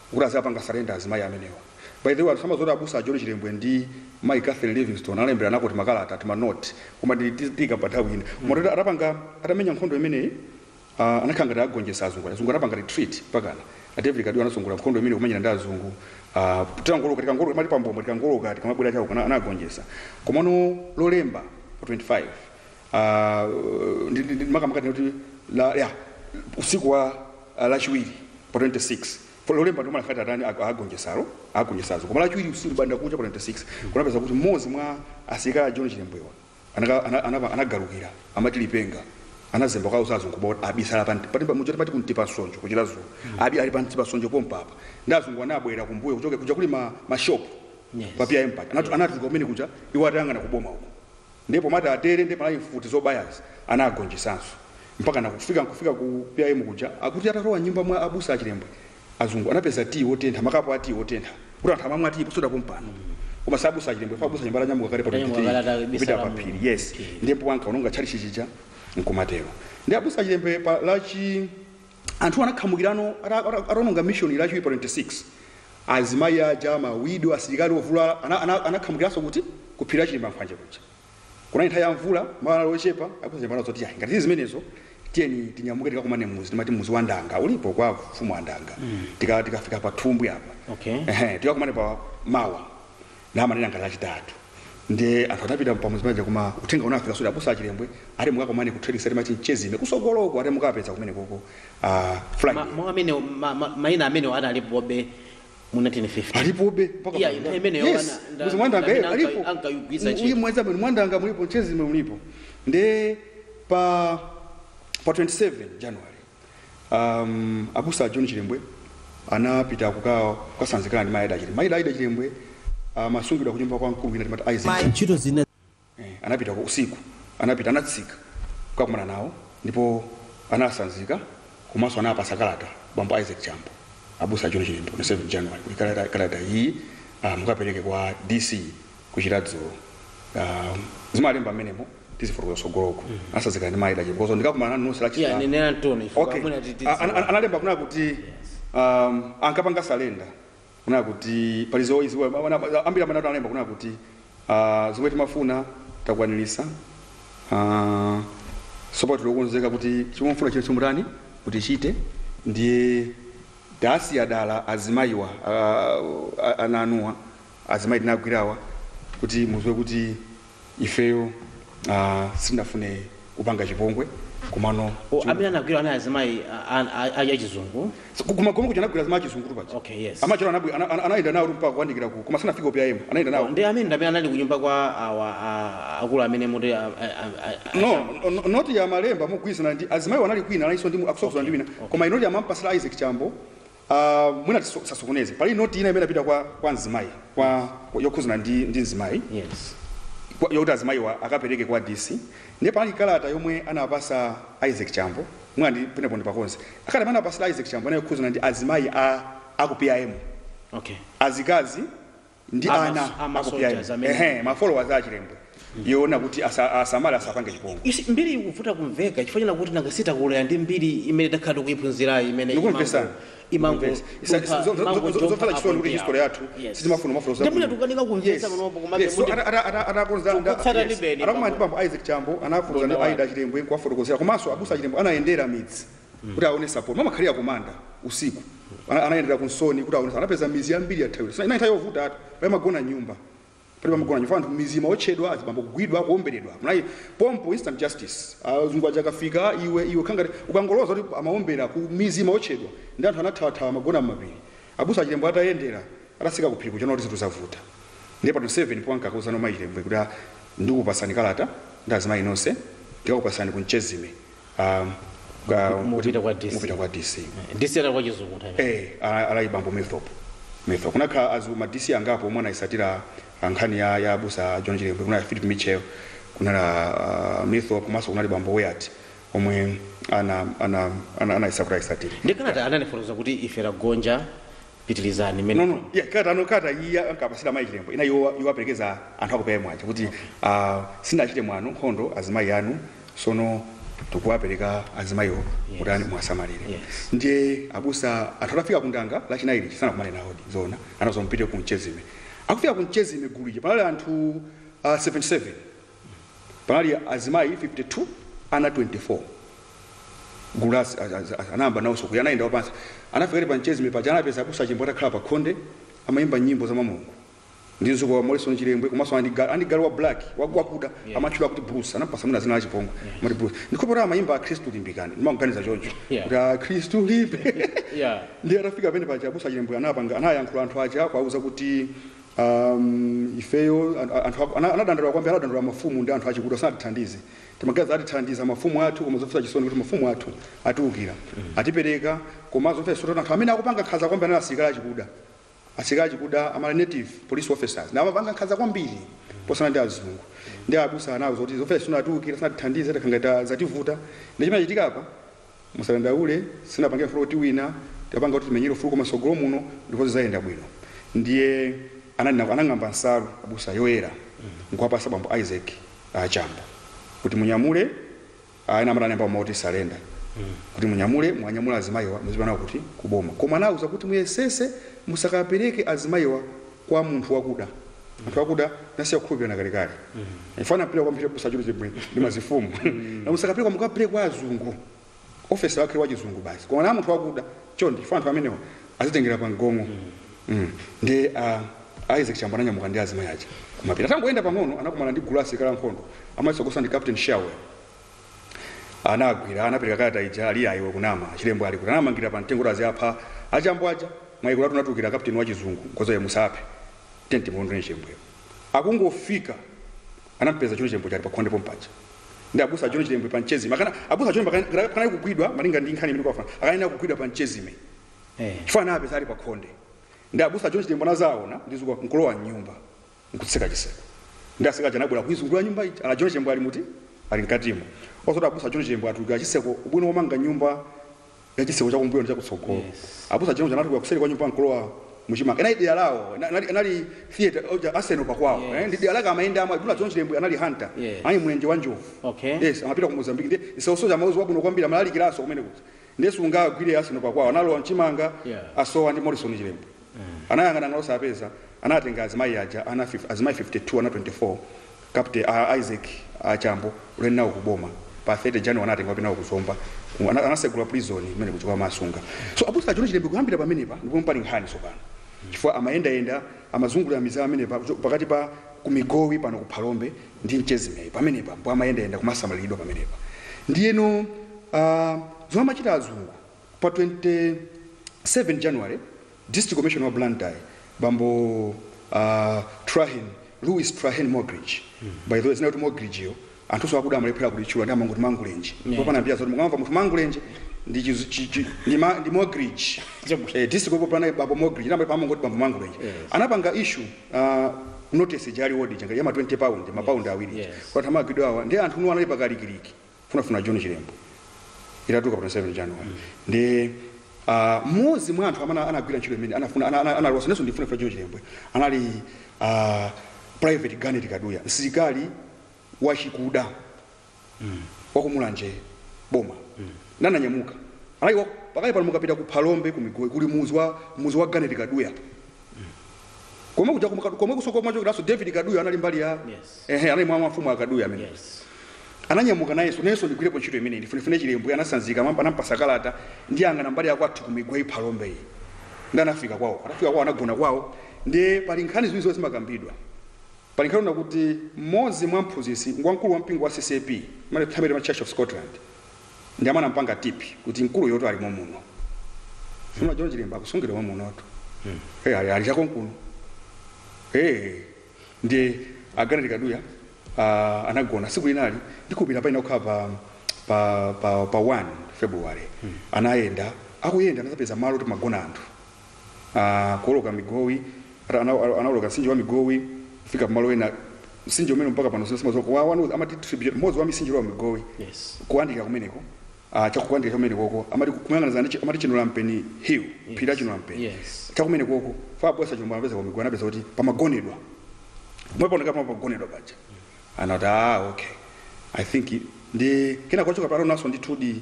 kuti adzawapanga surrender azimayi amenewa. By the way, anthu samadziwa kuti abusa a John Chilembwe ndi mayi Catherine Livingston analemberanako timakalata, tima note, koma ndi ti- tiika pa nthawi ina. Koma zoti atapanga, atamenya nkhondo imeneyi, ah, anakhala ngati agonjetsa azungu. Azungu anapanga retreat pakana. A David Kaduya anatsogolera nkhondo imeneyi kumenyana ndi azungu. Ah, tikangoloka, tikangoloka, timati pambombo, tikangoloka, tikamabwera chauko, ana- anagonjetsa. Komano lolemba pa 25, ah, ndi- ndi- ndi- makamaka tingoti la- ya, usiku wa Lachiwiri pa 26 Lolemba ndi lomwe anati atani a- agonjesalo agonjesalo koma Lachiwiri usiku mbandakucha pa 26 kunapezeka kuti mmodzi mwa asilikali a John Chilembwewa anaka- ana- ana- anagalukira amati lipenga anazemba kukawauza azungu kuti abisala pa nti- pati muja timati ku Mtipasonjo ku Chiradzulu abi- ali pa Mtipasonjo pompapa ndi azungu anabwera kumbuyo kuchoka kuja kuli ma ma shop Yes. pa PIM paja Anatu- anatuluka kumene kuja iwo atayang'ana kuboma uko Ndiye pomati atere ndiye panali mfuti zobayazi anagonjesanso mpakana kufika nkufika ku PIM kuja. Akuti atalowa m'nyumba mwa abusa a Chilembwe azungu anapeza tiyi wotentha, makapu a tiyi otentha kuti anthu amamwa tiyi posachedwa pompano koma si abusa a Chilembwe chifukwa abusa a Chilembwe atanyamuka kale pa Atanyamuka kale 23 kupita atabisala pa mu- phiri yes okay. ndiye m'pomwe anakaononga tchalitchi chija nkumatero. Ndiye abusa a Chilembwe pa lachi anthu anakhamukirano ataononga mission lachiwiri pa 26 azimayi aja mawido asilikali ovulala ana- ana- anakhamukiranso kuti kuphiri la chilimba mphwanje kuja kunali nthawi ya mvula malo anali ochepa akumvana zoti yayi ngati zili zimenezo tiyeni tinyamuke tikakumane muzi timati muzi wa ndanga ulipo kwa mfumu a ndanga Tika- tikafika pa thumbwi apa Okay. Ehe, tikakumane pa mawa namanena ngati lachitatu nde anthu anapita pamuzi paja koma uthenga unafika zoti abusa achilembwe ati mukakomane ku trading center amati mchezime kusogoloko ati mukawapeza kumene koko uh, friday Ma- mau amene ma- ma- maina amenewo analipobe mu 1950 alipobe mpaka Yeah, pano. nthawi imeneyo Yes, ana- nda- muzi mwandanga ndamene eh, anka- alipo ankayigwiritsa Mu- ntchito. uyu muzi umene mwandanga mulipo mchezime mulipo nde pa pa 27 january um, abusa a john chilembwe anapita kuka- kukasanzikana ndi mayi ida chilembwe mayi ida aida chilembwe amasungidwa ku nyumba kwa mkulu wina timati isaac ntchito zina eh, anapita ku usiku anapita anatsika kukakumana nawo ndipo anasanzika komanso anapasa kalata bambo isaac chambo abusa a john chilembwe on 7 january kuti kalata, kalata iyi ah, mukapereke kwa dc ku chiradzulu um, zimalemba mmenemo tizifotokoza sogoloku atasanzikana ndi mayi ida chi kozo ndikakumana nanu nonse la Yeah, Chisilamu. nenera ntoni ife Okay. pamwena titi. A- ana- ana- analemba kunena kuti um, ankapanga surrender kunena kuti pali zoizi ambiri amene analemba kunena kuti uh, zomwe timafuna takwanilisa uh, sopano tili okonzeka kuti chomwe mufuna chino chimutani mutichite ndiye tasiya dala azimayiwa uh, ana anuwa azimayi tinagwirawa kuti muziwe kuti ifeyo ah, sitinafune kupanga chipongwe komano O, amene anagwira ana azimayi a- a- a- a- achizungu ku magomero kuja anagwira azimayi achizungu paja Okay, yes. amachero anabwi- ana- ana- anayenda nawo mpaka kuwandikira ku koma sanafike ku pim anayenda nawo ndi amene ndamene anali kunyumba kwa awa a- akulu amene mukuti a- a- a- a- no no- noti ya malemba mogwirizana ndi azimayiwa anali kwina analinso ndi mu- akusokosola ndi wina koma noti amampasira isaac chambo a mwina tiso- tisasokoneze pali noti ina imene inapita kwa, kwa mzimayi kwa, kwa yokhuzana ndi, ndi mzimayi yes kwa- yokuti azimayiwa akapereke kwa dc ndiye panali kalata yomwe anapasa isaac chambo mwina ndi pamenepo ndipakonze kalata imene anapasira isaac chambo inali yokhuzana ndi azimayi a, a ku pim okay azikazi ndi Ama- ana ama a ku PIM. soldiers amene- Ehe, ma followers a chilembwe yonena kuti asa- asamale asapange chipongwe You see, mbiri ikuvuta kumveka chifukwa chonena kuti nanga si takulira ndi mbiri imene takhala tikuiphunzirayi imene Ndikumvesa. Ndikumvesa. Isa- zo- zo- zo- zo- zopasa chisoni kuti history yathu sitimafuna mafollowers ndimene abwino. tikukanika kumvesa Yes. panopo komabe Yes, so kuti ana- ana- ana- anakonza- nda- Tikutsata yes. ndi beni Anakumana ndi bambo Isaac Chambo anakonza ndi Bona Aida Chilembwe kuwafotokozera komanso abusa Chilembwe anayendera midzi kuti aone support amakhalira kumayenda usiku Ana- anayendera ku nsoni kuti aone anapeza mizi yambiri yathawira Sina- inali nthawi yovuta anthu palibe amagona mnyumba palibe amagona mnyumba anthu mizi imaotchedwa azibambo kugwidwa kuomberedwa mnayi pompo instant justice azungu aja akafika iwe iwe khangati ukangoloza kuti amaombera ku mizi imaotchedwa ndi anthu anathawathawa amagona mmapiri abusa a chilembwe atayendera atasika kuphiri nkuona kuti zinthu zavuta ndiye pano 7 powanka akuzana mayi chilembwe kuti ah, ndikupasani kalata ndi azimayi nonse ndikakupasani kunchezime um, ka- Mu- mupita kwa DC. mupita kwa dc dc wa ku chiradzulu Eh, a- anali bambo milthorp milthorp kunakhala azu- ma dc angapo omwe anayisatira ah, nkhani ya ya abusa john chilembwe kunali philip mitchell kunali ah, milthorp komanso kunali bambo wyatt omwe ana- ana- ana- anayesa kuti ayisatire ndi kalata anafotokoza kuti ife tagonja pitilizani no no mene yeah, kalata no kalata iyi ankapasira mayi chilembwe ina iwo iwo aperekeza anthu aku PIM aja kuti ah, sinachite mwano nkhondo azimayi anu sono tikuwapereka azimayiwo kuti ani muwasamalire Yes. ndiye abusa anthu atafika kundanga lachinayi lija sanakumane nawodi zoona anauza mupite ku mchezime akufika ku mchezime gulu lija panali anthu ah, 77 Panali azimayi 52, ana 24. Gulu la az- az- az- anayamba nawonso kuya, anayenda wapansi, anafika ali pa mchezime paja, anapeza abusa a Chilembwe atakhala pa khonde, amayimba nyimbo za mwa Mulungu ndi mdzukulu wawo Morrison Chilembwe komanso anali ndi galu, anali galu wa black wa- wakuda Yeah. amatchula kuti Bruce, anampasa mwina zina la chipongwe amati Bruce. Ndikhopo ta amayimba Akhristu limbikani, ndimaganiza choncho Yeah. kuti Akhristu limbe Yeah. ndiye atafika pamene paja abusa chilembwe anapanga anayankhula anthu aja akuwauza kuti Am, ifeyo, an- a- anthu aku- ana- anadandaula kwambiri, anadandaula mafumu ndi anthu achikuda sanatithandize. Timaganiza atithandiza mafumu athu koma zomvetsa chisoni kuti mafumu athu atiukira, atipereka koma zomvetsa chisoni kuti anthu amene akupanga nkhanza kwambiri anali asilikali achikuda. Asilikali achikuda anali native police officers nawo amapanga nkhanza kwambiri posiyana ndi azungu. Ndiye abusa anawauza zoti zomvetsa chisoni atiukira sanatithandize takhala ngati zativuta. Ndi chimene chitika apa Musadandaule sinapange kufuna kuti tiwine tapanga kuti timenyere ufulu koma mtsogolo muno ndipo zidzayenda bwino ndiye ananena anang'amba nsalu abusa yoyera nkuwapasa bambo Isaac a Chambo kuti munyamule a ena amati analemba mau kuti surrender kuti munyamule muwanyamule azimayiwa muzipita nawo kuti ku boma koma anawauza kuti muyesese musakapereke azimayiwa kwa munthu wakuda anthu akuda nasiya kukhulupirana kalekale mfana mpira kwambiri kusachulu chibwe ndi mafumu musakapereke kwa mukapereke kwa azungu officer wachizungu basi koma na munthu wakuda chonde chifukwa anthu amenewa azitengera pa mgongo Mm. ndi ah, isaac chambo ananyamuka ndi azimayi aja kumapita atangoyenda pang'ono anakumana ndi gulu la asilikali ankhondo amatsogoza ndi captain shawe anagwira anapereka kalata ija ali ayi iwe ukunama chilembwe ali kuti anamangirira pa mtengo kuti aziwapha achambo aja mwaiko latu anatulukira kapteni wa chizungu nkuuza ayi musaphe tiyeni timulondole chilembweyo akungofika anampeza john chilembwe ali pakhonde pompaja ndiye abusa a john chilembwe pa mchezime akana abusa a john pakana pakana kugwidwa malinga ndi nkhani imene kwafana akanayenera kugwidwa pa mchezime Eh. chifukwa anapeza ali pakhonde ndiye abusa a john chilembwe anazaona ndi zikuwa nkulowa mnyumba nkutseka chiseko ndiye asilikali aja anabwera kuizungulira nyumba ija a john chilembwe ali muti ali mkatimo osati abusa a john chilembwe atulukira chiseko ubwino womanga nyumba ya chiseko chakumbuyo ndi chakutsogolo Yes. abusa a john anatuluka kuseri kwa nyumba nkulowa muchimanga inali dera lawo ina- inali- inali territory ya arsenal pakwawo Yes. eh, ndi dera lake amayenda amwe abusa john chilembwe anali hunter Yes. anali mlenje wa njovu Okay. yes amapita ku mozambique ndi isaosoja amakudziwa bwino kwambiri amalalikiraso kumene kuti ndiye sungagwire arsenal pakwawo analowa mchimanga Yeah. asowa ndi morrison chilembwe Anayang'anayang'ana osapeza, anatenga azimayi aja ana fif- azimayi 52 ana 24 captain a Isaac a Chambo ulendo nawo kuboma pa 30 January anawatenga kupita nawo ku Zomba komwe anasegula prison kumene kuja kukawasunga. So abusa a John Chilembwe kuyambira pamenepa ndi pomwe pali nkhani tsopano chifukwa amayendayenda amazungulira midzi ya pamenepa kuchoka pakati pa ku Migowi pano ku Phalombe ndi Michesi pamenepa m'pomwe amayendayenda kumasamaliridwa pamenepa ndiyeno aah zomwe amachita azungu Pa 27 January, District Commissioner wa Blantyre, bambo a Trahern, Louis Trahern Mogridge, by the way, dzina loti Mogridge yo, anthu akuda amalephera kulitchula ndiye amangoti mangulenje. Yeah. Popanda mbiri zoti mukamva munthu akuti mangulenje, ndi chizu- chi- chi- ndi ma- ndi Mogridge. Chabwino Eh, District Commissioner Blantyre, bambo Mogridge, nanga pamangoti bambo mangulenje. Yes. Anapanga issue, ah, notice ya reward ya ma 20 pound, ma pound awiri. Yes. Kuti amangidwe awa, ndiye anthu tu anali pakalikiliki. funafuna john chilembwe itatuluka pa 27 january ndiye ah, mmodzi mwa anthu amene anagwira ntchito imene anafuna ana- ana- analosa nayenso ndifunafuna john chilembwe anali ah, private garnet kaduya msilikali wachikuda wakumulanje boma nananyamuka anali wa- pakali pano mukapita ku phalombe ku migowi kuli muzi wa muzi wa garnet kaduya komwe kuja kumka- komwe kusomachokeranso david kaduya anali mbali ya Yes. ehe anali mwa mafumu akaduya amene Yes. ananyamuka nayenso nayenso ndigwirepo ntchito imeneyi ndifunefune chilembwe anasanzika mwamva anampasa kalata ndikayang'ane mbali yakwathu kumigowi phalombe iyi ndiye anafika kwawo anafika kwawo anagona kwawo ndiye pali nkhani ziwiri zomwe zimakambidwa pali nkhani kuti mmodzi mwa mphunzitsi wamkulu wa mpingo wa ccap mwanthawi imeneyo amati church of scotland Ndi amene anampanga tipi kuti mkuluyotu ali momuno. John Chilembwe akusungidwa momunotu. Eh, ali, ali chakonkuno. Eh, ndiye a garnet kaduya uh, anagona siku linalo ndikupita payenera kukhala pa, pa, pa, pa 1 february anayenda akuyenda anazapeza malo oti pamagona anthu a, kuwoloka migowi, ata, ana, a- anawoloka mtsinje wa migowi kufika pamalo ena mtsinje umene mpaka pano sina- sitimadziwa wake amati tributary mmodzi wa mtsinje wa migowi Yes. kuyandikira kumeneko ah, chakuyandikira chamenekoko amati kuyang'anizana ndi chi- amati chinulampeni hill phiri la chinulampeni Yes. chakumenekoko abusa a chilembwe anapeza kumigowi anapeza kuti pamagonedwa mmene pakuonekera pano pagonedwa paja anati ah okay i think mwina kwachoka pano sianafike 2d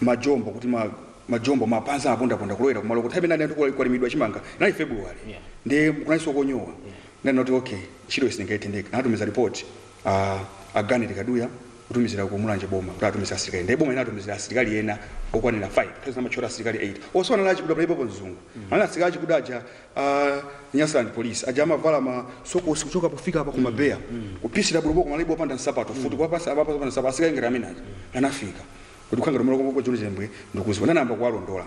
majombo kuti ma majombo mapazi apondaponda kulowera kumalo kuti amene anati kula- kwalimidwa chimanga inali february Yeah. ndiye kunaliso konyowa ndiye anati okay ntchito itheka anatumiza report a garnet kaduya kutumizira ku mulanje boma kuti atumiza asilikali ndiye boma inatumizira asilikali ena okwanira 5 nthawi zina amatchula asilikali 8 onsewa achikuda panalibe mzungu ndiye asilikali achikuda aja a Nyasaland police aja amavala masokosi kuchoka pofika apa kuma beya kupisira bulubo koma libo panda nsapato futi kwa pasi abapa panda nsapato asika ngati amene aja anafika kuti khanga domolo kwa John Chilembwe ndikuziwa nayamba kuwalondola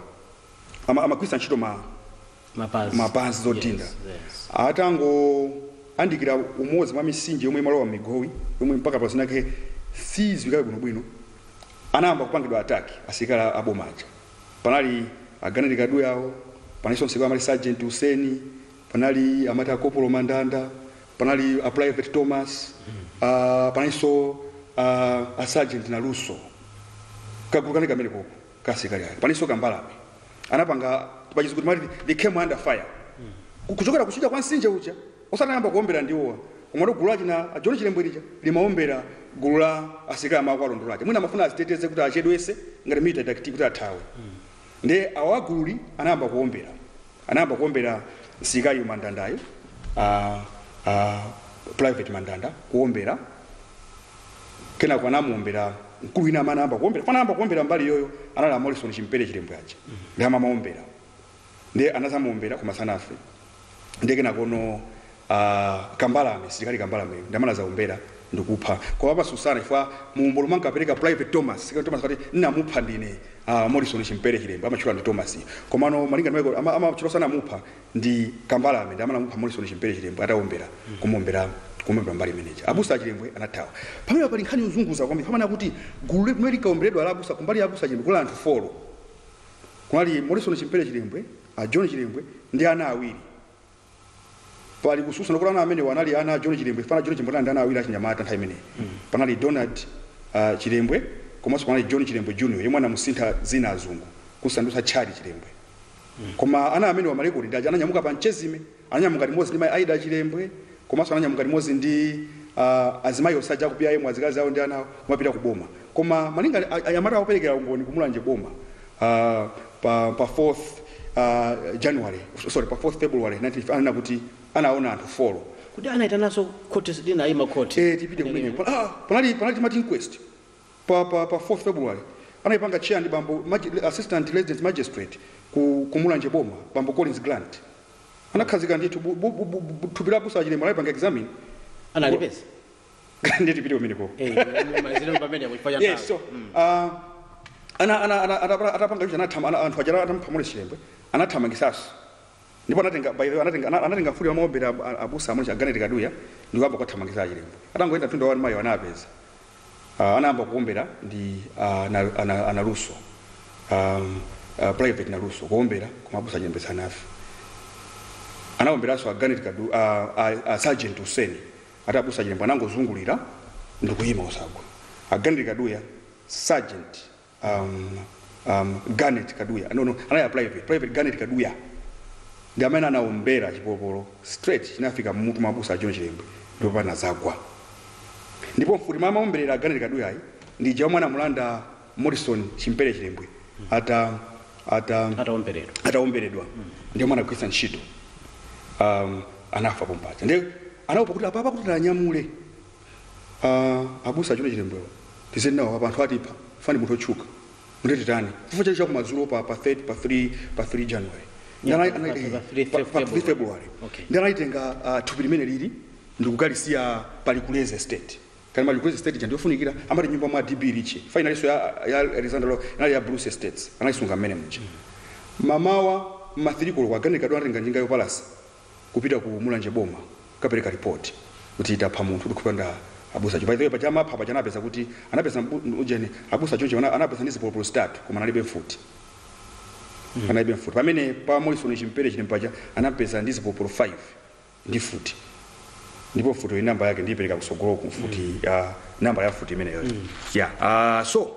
ama amagwiritsa ntchito ma mapazi mapazi zodinda Yes, yes. atangoyandikira umodzi mwa misinje yomwe imalowa Migowi yomwe mpaka pazinake siziwikabe bwinobwino anayamba kupangidwa attack asilikali aboma aja Panali a Garnet Kaduya awo, panalinso msirikali amati Sergeant Useni, panali amati a Kopolo Mandanda, panali a Private Thomas, a, panalinso a, a Sergeant Naluso. Kagulu kanali kamenekoko ka asilikali ake. Panalinso Kambalame. Anapanga pachizungu timati they came under fire. Ku- Kuchokera kuchita kwa nsinje uja Osanayamba kuombera ndiwo awa komano gulu la achina a John Chilembwe lija limaombera gulu la asilikali amawa kuwalondola aja mwina amafuna aziteteze kuti achedwese ngati military tactic kuti athawe nde awa agululi anayamba kuombera anayamba kuombera msilikaliyo Mandandayo a, a Private Mandanda kuombera kenako anamuombera mkulu wina amene anayamba kuombera kuna anayamba kuombera mbali yoyo anali a Morrison Chimpere Chilembwe aja ndi amamuombera ndiye anazamuombera koma sanafe ndiye kenakono a Kambalame msilikali Kambalame ndamene anazaombera ndikupha koma amasusana chifukwa muumboni womwe ankapereka Private Thomas msilikali Thomas akuti namupha ndine a Morrison Chimpere Chilembwe amatchula ndi Thomas komano malinga ndimaiko amatchula sanamupha ndi Kambalame ndamene anamupha Morrison Chimpere Chilembwe ataombera kumuombera kumuombera mbali imeneyi abusa a Chilembwe anathawa pamene pali nkhani yozunguza kwambiri pamene akuti gulu limene linkaomberedwa la abusa kumbali ya abusa a Chilembwe kunali anthu folo Kunali Morrison Chimpere Chilembwe, a John Chilembwe ndi ana awiri. Pali kususana kuti ana amenewa anali ana a John Chilembwe, chifukwa ana a John Chilembwe anali ndi ana awiri achinyamata nthawi imeneyi. Panali Donald uh, Chilembwe komanso panali John Chilembwe Junior yemwe anamusintha dzina azungu kusandutsa Charlie Chilembwe. Koma ana amenewa malekodi akuti ananyamuka pa Nchezime Ananyamuka limodzi ndi mai Aida Chilembwe komanso ananyamuka limodzi ndi a azimayi onse aja aku PIM azikazi awo ndi ana awo kumapita ku boma koma malinga a anyamata awo operekera umboni ku Mulanje boma a pa pa 4th a January sorry pa 4th February 19 ananena kuti anaona anthu folo Kodi anaitanaso khoti linaima khoti? ee tipite kumeneko ah panali panali timati inquest pa pa pa 4th February anayipanga chair ndi bambo maji, assistant resident magistrate ku, ku Mulanje boma bambo Collins Grant anakhazika ndithu bu, bu, bu, bu, bu, thupi la abusa a Chilembwe anayipanga examine analipeza ndiye tipite kumeneko Eh, malizire pamene kuchifanya yes nthawi. so uh, ana ana ana atapanga atapanga ichi anathama- ana- anthu aja atampha Morris Chilembwe anathamangitsa abusa ndipo anatenga by the way anatenga ana- anatenga mfuti yamaombera abusa amuli a Garnet Kaduya ndikuyamba kuwathamangitsa a Chilembwe atangoyenda mtunda wa mailo anapeza uh, anayamba kuombera ndi uh, na, ana, a Naluso um, uh, private Naluso kuombera koma abusa Chilembwe asanafe anaomberanso a Garnet Kadu uh, uh, uh, sergeant Useni ati abusa Chilembwe anangozungulira ndikuyima osagwa a Garnet Kaduya sergeant um, um, Garnet Kaduya no, no, anali a private private Garnet Kaduya ndi amene anaombera chipolopolo straight chinafika mmutu mwa abusa John Chilembwe ndipo anazagwa ndipo mfuti yomwe amaomberera Garnet Kaduya ayi ndi ija yomwe anamulanda Morrison Chimpere Chilembwe ata ata ataomberedwa ataomberedwa ndi yomwe anagwiritsa ntchito um, anafa pompaja ndiye anaopa kuti apapa kuti tiwanyamule Aaa abusa a John Chilembwewa tizeni nawo apa anthu atipha chifukwa ndi munthu otchuka nde titani chifukwa chake chakumadzulo pa pa 3 pa 3 pa 3 January Yeah, Ndala- pa- anali- pa- eh, pa 3 pa- pa 3 February Okay. ndi analitenga ah, thupi limene lili ndikukalisiya pa Likulezi Estate kali ma Likulezi Estate chandi yofunikira amati nyumba mwa DB Ritchie inalinso ya ya Alexander Lo- inali ya Bruce Estates analisunga mmene muja mamawa ma 3 koloko a Garnet Kaduya anatenga njinga yopalasa kupita ku mulanje boma kukapereka report kuti tapha munthu kuti kupanda abusa John by the way paja amapha paja anapeza kuti anapeza mbu- ujeni abusa John ana- anapeza ndi zipolopolo zitatu koma analibe mfuti analibe mfuti pamene pa Morrison Chimpere Chilembwe paja anampeza ndi zipolopolo 5 ndi mfuti ndipo mfuti iyi namba yake ndiyipereka kusogoloko mfuti ya namba ya mfuti imeneyo ya ah so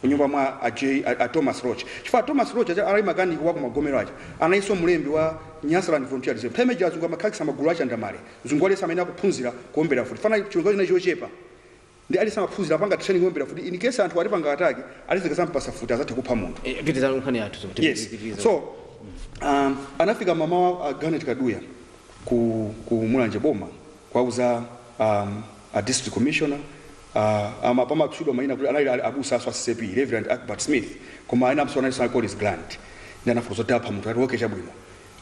kunyumba mwa a J, a, a Thomas Roach chifukwa a Thomas Roach aja anali makaniki waku Magomero aja analinso mlembi wa Nyasaland Volunteer Reserve nthawi ija azungu amakhazikitsa magulu a chandamale mzungu aliyese amayenera kuphunzira kuombera mfuti fanai chilungamo chinali chochepa ndi aliyese amaphunzira amapanga training yoombera mfuti in case anthu atipanga attack aliyese tikazampasa mfuti azatha kupha munthu Eh, pitirizani nkhani yathu so kuti yes tipitirize. so um, anafika mamawa a Garnet Kaduya ku, ku Mulanje Boma kuwauza um, a District Commissioner, a, a ma, pamatchulidwa mayina kuti anali a, abusanso a ccap, Rev. Archibald Smith, koma enanso analinso a Collins Grant, ndiye anafotokoza kuti tapha munthu, anati okay chabwino.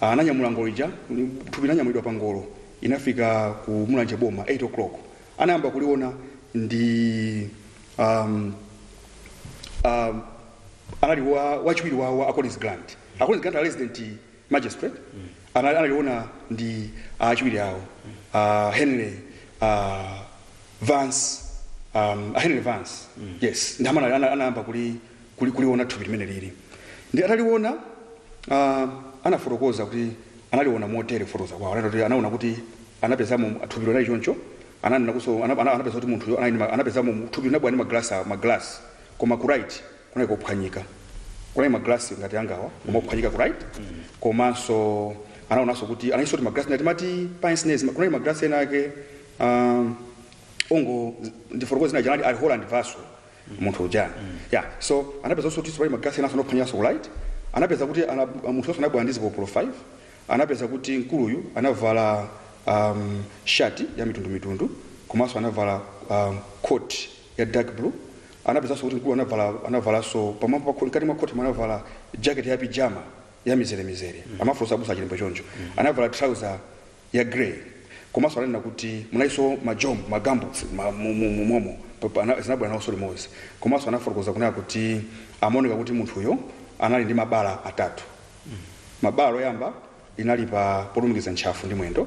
A, ananyamula ngolo ija, ni- thupi linanyamulidwa pa ngolo, inafika ku Mulanje Boma, 8 o'clock. Anayamba kuliona ndi, um, um, anali wa, wachiwiri wa, wa a Collins Grant. A Collins Grant a resident magistrate anali analiona ndi achiwiri awo a henry a vance um, a henry vance yes ndi amene ana- ana- anayamba kuli kuli- kuliona thupi limene lili ndi ataliona ah, anafotokoza kuti analiona motere kufotokoza kwawo Anati kuti anaona kuti anapezamo thupi linali choncho ananena kuso ana- ana- anapeza kuti munthuyo anali ndi ma- anapezamo thupi linabwera ndi maglasi a- maglasi koma ku right kunali kophwanyika kunali maglasi ngati angawa koma ophwanyika ku right komanso anaonanso kuti analinso ndi maglasi ngati amati pinsnes kunali maglasi ena ake um, ngondifotokozere zina janali ali holland vaso munthu ujani ya so anapeza kuti pali maglasi ena anophwanyikanso ku right anapeza kuti ana- munthu ameneyo anabwera ndi zipopolo 5 anapeza kuti mkuluyu anavala um, shati ya mitundumitundu komanso anavala um, coat ya dark blue Anapezanso kuti mkulu anavala anavalanso pamwamba pa coat mkati mwa coat anavala jacket ya pijama ya mizere mizere amaneneratu abusa a Chilembwe choncho anavala trouser ya grey komanso ananena kuti munalinso majombo magambuts ma, mu, mu, mu, momo pa- pa- ana- zinabwera nawonso limodzi komanso anafotokoza kunena kuti amaoneka kuti munthuyo anali ndi mabala atatu bala loyamba linali pa polumikiza ntchafu ndi mwendo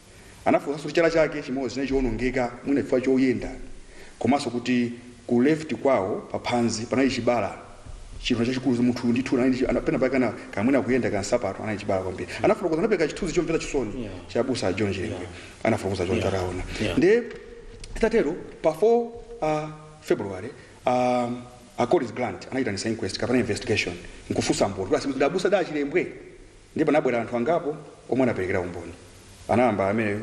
Anafotokozanso kuti chala chake chimodzi chinali chowonongeka mwina chifukwa choyenda komanso kuti ku left kwawo pa phazi panali chibala chinthu chachikulu munthu uyu ndithu anali ndi chi- ana- pena pake ana kaya mwina kuyenda kaya nsapato anali chibala kwambiri anafotokoza anapereka chithunzi chomvetsa chisoni Yeah. cha abusa a John Chilembwe anafotokoza choncho Yeah. ataona Yeah. ndiye titatero pa 4 uh, february um, a Collins Grant anayitanisa inquest kapena investigation nkufunsa mboni kuti atsimikize abusa ndi a Chilembwe Ndiye panabwera anthu angapo omwe anaperekera umboni. Anayamba amenewa,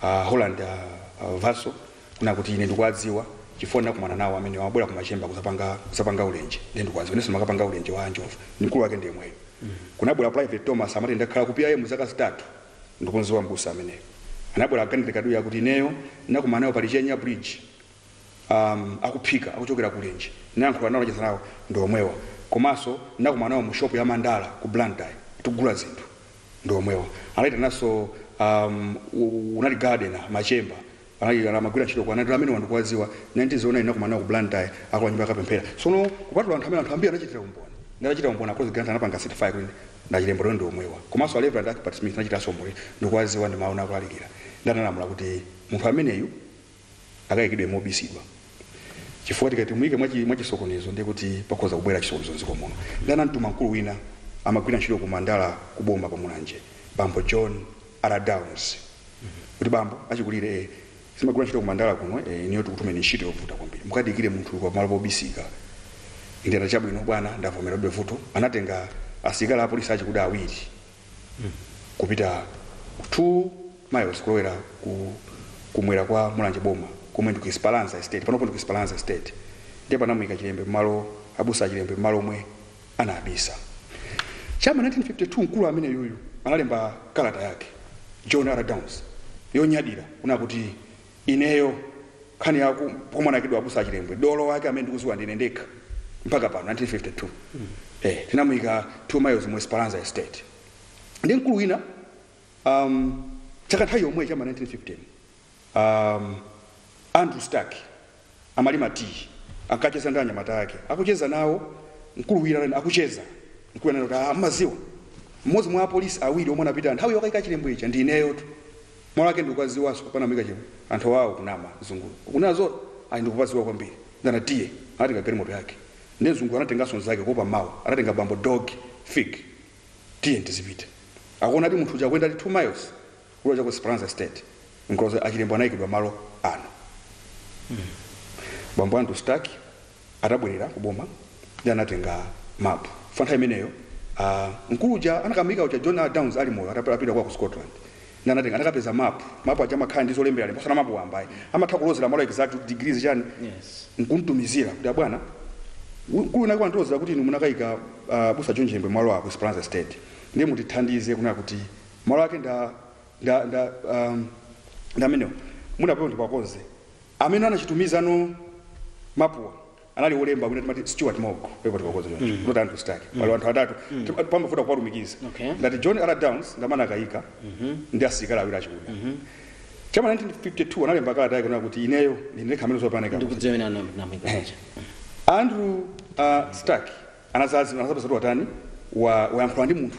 a Holland a, a Vaso, kunena kuti ine ndikuwadziwa chifukwa ndinakumana nawo amenewa amabwera ku Machemba kudzapanga, kudzapanga ulenje. Ndiye ndikuwadziwa, inenso ndimakapanga ulenje wa njovu. Mkulu wake ndi yemweyu. Kunabwera Private Thomas amati ndakhala ku PIM zaka zitatu, ndikumdziwa m'busa ameneyu. Anabwera a Ganede Kaduya akuti ineyo ndinakumana nawo pa Lichenya bridge. am akuphika akuchokera ku ulenje ndinayankhula nawo ndinacheza nawo ndi omwewa komanso ndinakumana nawo mu shop ya mandala ku blantyre tikugula zinthu ndi omwewa anaitananso am kunali gardener machemba anali amagwira ntchito kwa anati amenewa ndikuwadziwa 1909 ndinakumana nawo ku blantyre akumanga nyumba yopempherera sono kupatula anthu amene anthu ambiri anachitira umboni ndinachita umboni a Collins Grant anapanga certify kuti ndi a Chilembwe ndi omwewa komanso a reverend akpat smith anachitanso umboni ndikuwadziwa ndi mawu akulalikira nde analamula kuti munthu ameneyu akaikidwe mobisidwa chifukwa tikati timuike mwachi- mwachisokonezo ndiye kuti pakhoza kubwera chisokonezo mdziko muno nde anamtuma mkulu wina amagwira ntchito ku mandala ku boma pa mulanje bambo john r downs kuti bambo achikulire eh, simagwira ntchito ku mandala kuno eh, inuyo tikutumeni ntchito yovuta kwambiri mukaike munthu pa malo pobisika ndiye anati chabwino bwana ndavomera ndilibe vuto anatenga asilikali apolisi achikuda awiri kupita 2 miles kulowera kumwera kwa mulanje boma komwe ndi ku Esperanza estate panopo ndi ku Esperanza estate ndiye panamuyika Chilembwe mmalo abusa a Chilembwe mmalo omwe anabisa chama 1952 mkulu ameneyuyu analemba kalata yake John R Downs yonyadira kunena kuti Ineyo nkhani ya ku- pomwe anaikidwa abusa achilembwe mzungu wake amene ndikuziwa ndine ndekha mpaka pano 1952 eh, tinamuika 2 miles mu esperanza estate ndi mkulu wina um, chaka nthawi yomweyi cha m'ma 1950 um, andrew stark amalima tiyi, ankacheza ndi anyamata ake. Akucheza nawo, mkulu wina ananena, akucheza, mkulu ananena kuti, ah, mumadziwa, mmodzi mwa apolisi awiri omwe anapita nthawi yokayika Chilembwe ija ndi ineyotu. Malo ake ndikuwadziwanso, pomwe anamuyika Chilembwe. Anthu awa akunama, mzunguwe. Ukunena zoona? Ayi, ndikupadziwa kwambiri. Ndiye, tiye. Anatenga galimoto yake. Ndiye mzunguyo anatenganso mnzake kuopa mawa. Anatenga bambo Doge, Fig. Tiyeni tizipita. Akumuonadi munthu uja akuyendadi 2 miles. Kulowa cha ku Esperanza Estate mkuloza a Chilembwe anaikidwa malo ano. Bambo Andrew Stark atabwerera ku boma ndiye anatenga mapu. Pa nthawi imeneyo a mkulu uja anakamuyika uja John A. Downs ali moyo atap- apita kwa ku Scotland. Ndiye anatenga anakapeza mapu. Mapu aja amakhala ndi zolembalemba osati mapu wamba ayi. Amatha kulozera malo exact kuti degrees chani Yes. nkumutumizira kuti abwana mkulu winawake wandiloza kuti inu munakayika uh, abusa John Chilembwe malo a ku Esperanza Estate ndiye mutithandize kunena kuti malo ake nda nda nda um, ndamenewo mungapeze ndikuwakonza amene anawatumiza mapuwa anali wolemba amene timati stewart mog pepa tikakonze choncho mm. not andrew stark mm. anthu atatu mm. pamafuta kuwalumikiza Okay. ngati john r downs ndi amene anakayika ndi asilikali awiri achikuda cha m'ma 1952 analemba kalata yake kunena kuti ineyo ndine ndekha amene zooneka ndikudziwa pomwe tinamuika paja andrew uh, stark anadzadzimuka anadzapeza kuti watani wa- wayankhula ndi munthu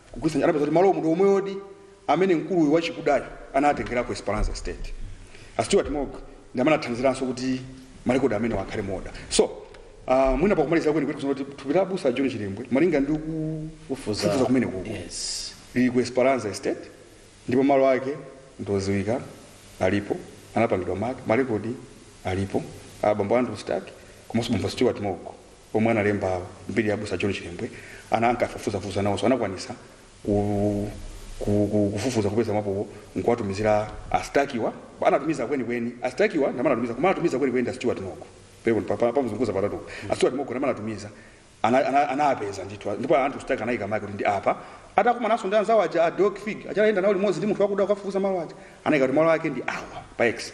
Kugwiritsa ntchito, anapeza kuti malowo ndi omwewodi amene mkulu uyu wachikudayu anawatengera ku Esperanza Estate. A Stuart Mogg ndi amene anathandiziranso kuti malekodi amenewa akhale mu order. So, ah, mwina pakumalizira kwenikweni nkoona kuti thupi la abusa a John Chilembwe malinga ndi Kufufuza. kufufuza kumeneku Yes. lili ku Esperanza Estate ndipo malo ake ndoziwika alipo anapangidwa maki malekodi alipo abambo Andrew Stark komanso bambo Stuart Mogg omwe analemba mbiri ya abusa john chilembwe ana ankafufuzafufuza nawonso anakwanisa ku, ku, ku, kufufuza kupeza mapowo nkuwatumizira a Stark-wa anatumiza kwenikweni a Stark-wa ndamene anatumiza koma anatumiza kwenikweni ndi a stuart mogg pepani ndamusokoneza patatu a stuart mogg ndamene anatumiza ana- ana- anapeza ndithu ndipo andrew stark anayika maki kuti ndi apa atakumananso ndi anzawo aja a dog fig aja anayenda nawo limodzi ndi munthu wakuda kukafufuza malo aja anayika kuti malo ake ndi awa pa x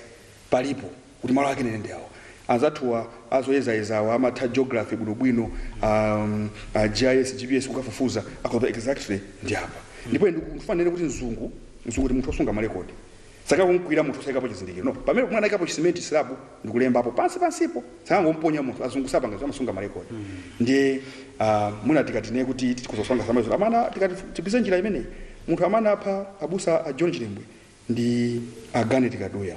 palipo kuti malo ake ndi awa anzathuwa azoyezayezawa amatha geography bwinobwino um, uh, gis gps kukafufuza akhoza exactly ndi apa ndipo ine ndikufuna ndinene kuti mzungu mzungu ndi munthu osunga malekodi sakanangomukwirira munthu osayikapo chizindikiro no pamenepo mwina anayikapo chisimenti, silabu ndikulembapo pansi pansipo sakanangomuponya munthu azungu sapanga zomwe amasunga malekodi ndiye ah, mwina tikati tinene kuti tikudziwa zimenezo amene tikati tidutse njira imeneyi munthu amene anapha abusa a john chilembwe ndi a Garnet Kaduya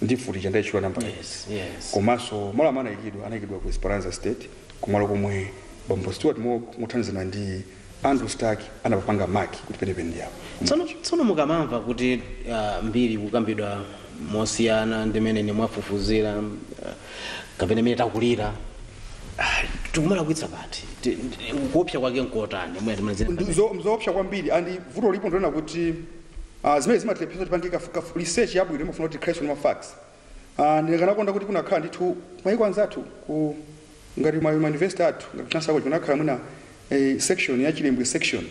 ndi mfuti ija mwaitchula nambala ija Yes, yes. komanso malo amene anayikidwa anayikidwa ku Esperanza Estate kumalo komwe bambo Stewart Mo- mothandizana ndi Andrew Stark anapapanga mark kuti penepene ndi apo tsono mukamamva kuti ah, mbiri kukambidwa mosiyana ndi mmene inu mwafufuzira ah, kapena mmene takulira ah, tikumalakwitsa pati Ti- ti- kuopsa kwake nkotani mwina timalizira Ndi mzo- mzoopsa kwambiri and vuto lipo ndonena kuti Ah, zimene zimatilepheretsa kuti tipange kafu, kafu research yabwino imafuna kuti tikhaleso ndi ma facts. Ah, ndikanakonda kuti kunakhala ndithu mayiko anzathu ngati ma ma university athu ngati Chancellor College kunakhala mwina eh, section ya Chilembwe section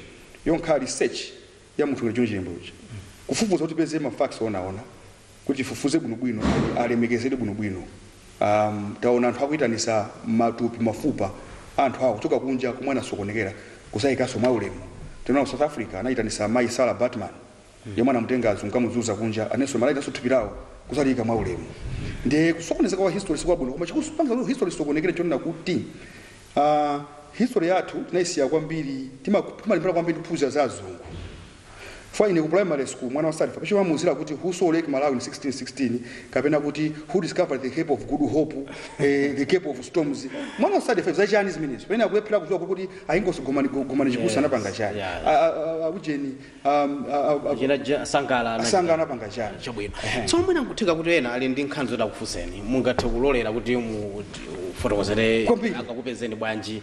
yongokhala research ya munthu ngati John Chilembwe uja. Kufufuza kuti tipeze ma facts onaona kuti tifufuze bwinobwino and alemekezedwe bwinobwino um, taona anthu akuitanisa matupi mafupa a anthu awo kuchoka kunja komwe anasokonekera kuzaikaso mwa ulemu tinaona ku South Africa anaitanisa mayi Sarah Baartman yemwe anamutenga azungu kukamuzunza kunja ananso akuitanitsaso thupi lawo kuzaliyika mwa ulemu ndiye kusokonezeka kwa history sikwabwino koma chikupangisa kuti history isokonekere chonena kuti ah, history yathu tinayisiya kwambiri tima- timalimbana kwambiri kuphunzira za azungu Chifukwa ine ku primary school mwana wa Standard 5 choti amamuuzira kuti who saw Lake Malawi in 1616 kapena kuti who discovered the Cape of Good Hope, eh, the Cape of Storms. Mwana wa Standard 5 za chani zimenezo. Pamene akulephera kudziwa kuti a Inkosi Gomani Gomani Chikuse anapanga chani. yeah. A- a- a- Akujeni um, a- a- a- Jena ja- sangala anachita. asanga anapanga chani. chabwino tsono mwina nkutheka kuti ena ali ndi nkhani zoti akufunseni mungathe kulolera kuti mu- fotokozere Kwambiri. angakupezeni bwanji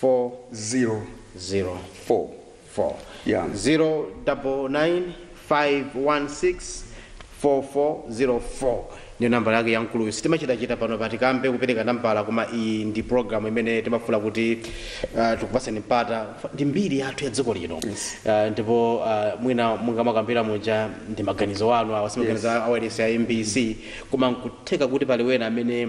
four zero zero four four Yeah. zero double nine five one six four four zero four ndiyo nambala yake yamkuluyu sitimachitachita pano pa Tikambe kupereka nambala koma iyi ndi programu imene timafuna kuti uh, tikupasani mpata ndi mbiri yathu ya dziko lino uh, ndipo uh, mwina monga mwakambira muja ndi maganizo anu awa si maganizo yes. awailesi ya MBC koma nkutheka kuti pali wena amene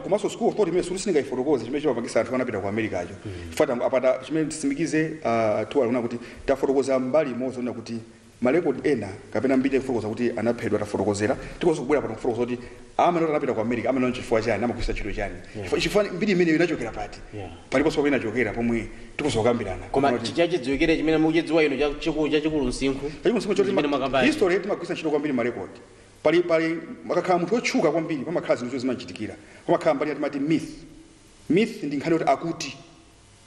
komanso school of thought imene sikuti sindingaifotokoze chimene chimapangisa anthu anapita ku America cho chifukwa tangowapatsa chimene tisimikize ah, tiwalankhula kuti tafotokoza mbali imodzi onena kuti marekodi ena kapena mbiri yakufotokoza kuti anaphedwa tafotokozera tikonso kubwera pano kufotokoza kuti amene amati anapita ku America amene onchi chifukwa chani amagwisa ntchito chani Chifukwa- chifukwa mbiri imeneyo inachokera pati Yeah. paliponso pamene inachokera pomwe tikonso kukambirana koma Kuti- chi- chachidziwikire chimene mukuchidziwa inu cha- chiku- chachikulu msinkhu chachikulu chimene mwakambani. history timagwisa ntchito kwambiri marekodi Pali pali akakhala munthu otchuka kwambiri pamakhala zinthu zoti zimamuchitikira pamakhala mbali ina timati myth. Myth ndi nkhani yoti akuti.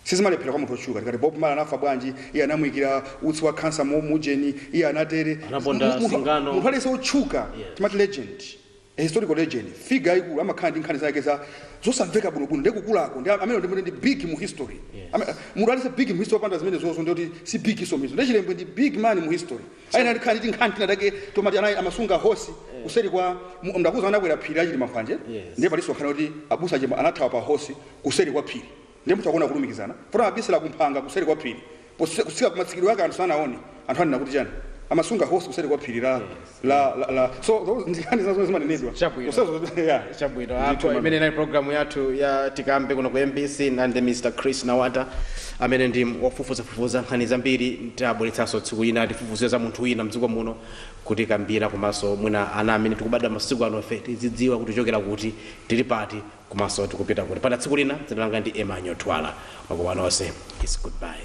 Sizimalephera kwa munthu otchuka tikati Bob Marley anafa bwanji, iye anamuikira utsi wa khansa mu mu ujeni, iye anatere. Anaponda Mu- munthu- singano. Munthu aliyense otchuka Yes. timati legend a historical legend figure yaikulu amakhala ndi nkhani zake za zosamveka bwinobwino ndi kukulako ndi amene ndi- ndi big mu history Yes. Ama- munthu aliyense big mu history opanda zimenezozo ndiye kuti si big so myth zo ndi Chilembwe ndi big man mu history ayenera tikhala ndi tinkhani tina take tomati anali amasunga hosi kuseri kwa mu- ndakuza anakwera phiri la chilima mphwanje Yes. ndiye pali zokamba kuti abusa chimba anathawa pa hosi kuseri kwa phiri ndiye mutha kuona kulumikizana poti abisala kumphanga kuseri kwa phiri Pose- kusika kumatsikidwe ake anthu sanaone anthu amanena kuti chani amasunga hosi kuseri kwa phiri la la la- la so those ndi nkhani zinazo zimanenedwa Chabwino. Kusezo- yeah. Chabwino, Ndithu, apa ndi mmene inali programu yathu ya tikambe kuno ku mbc ndinali ndi mr chris nawata amene ndi wofufuzafufuza nkhani zambiri tidzabweretsanso tsiku lina tifufuzire za munthu wina mdziko muno kutikambira komanso mwina ana amene tikubadwa masiku ano ife tizidziwa kuti tichokera kuti tili pati komanso tikupita kuti mpaka tsiku lina dzina langa ndi emmanuel twala makoma nonse is goodbye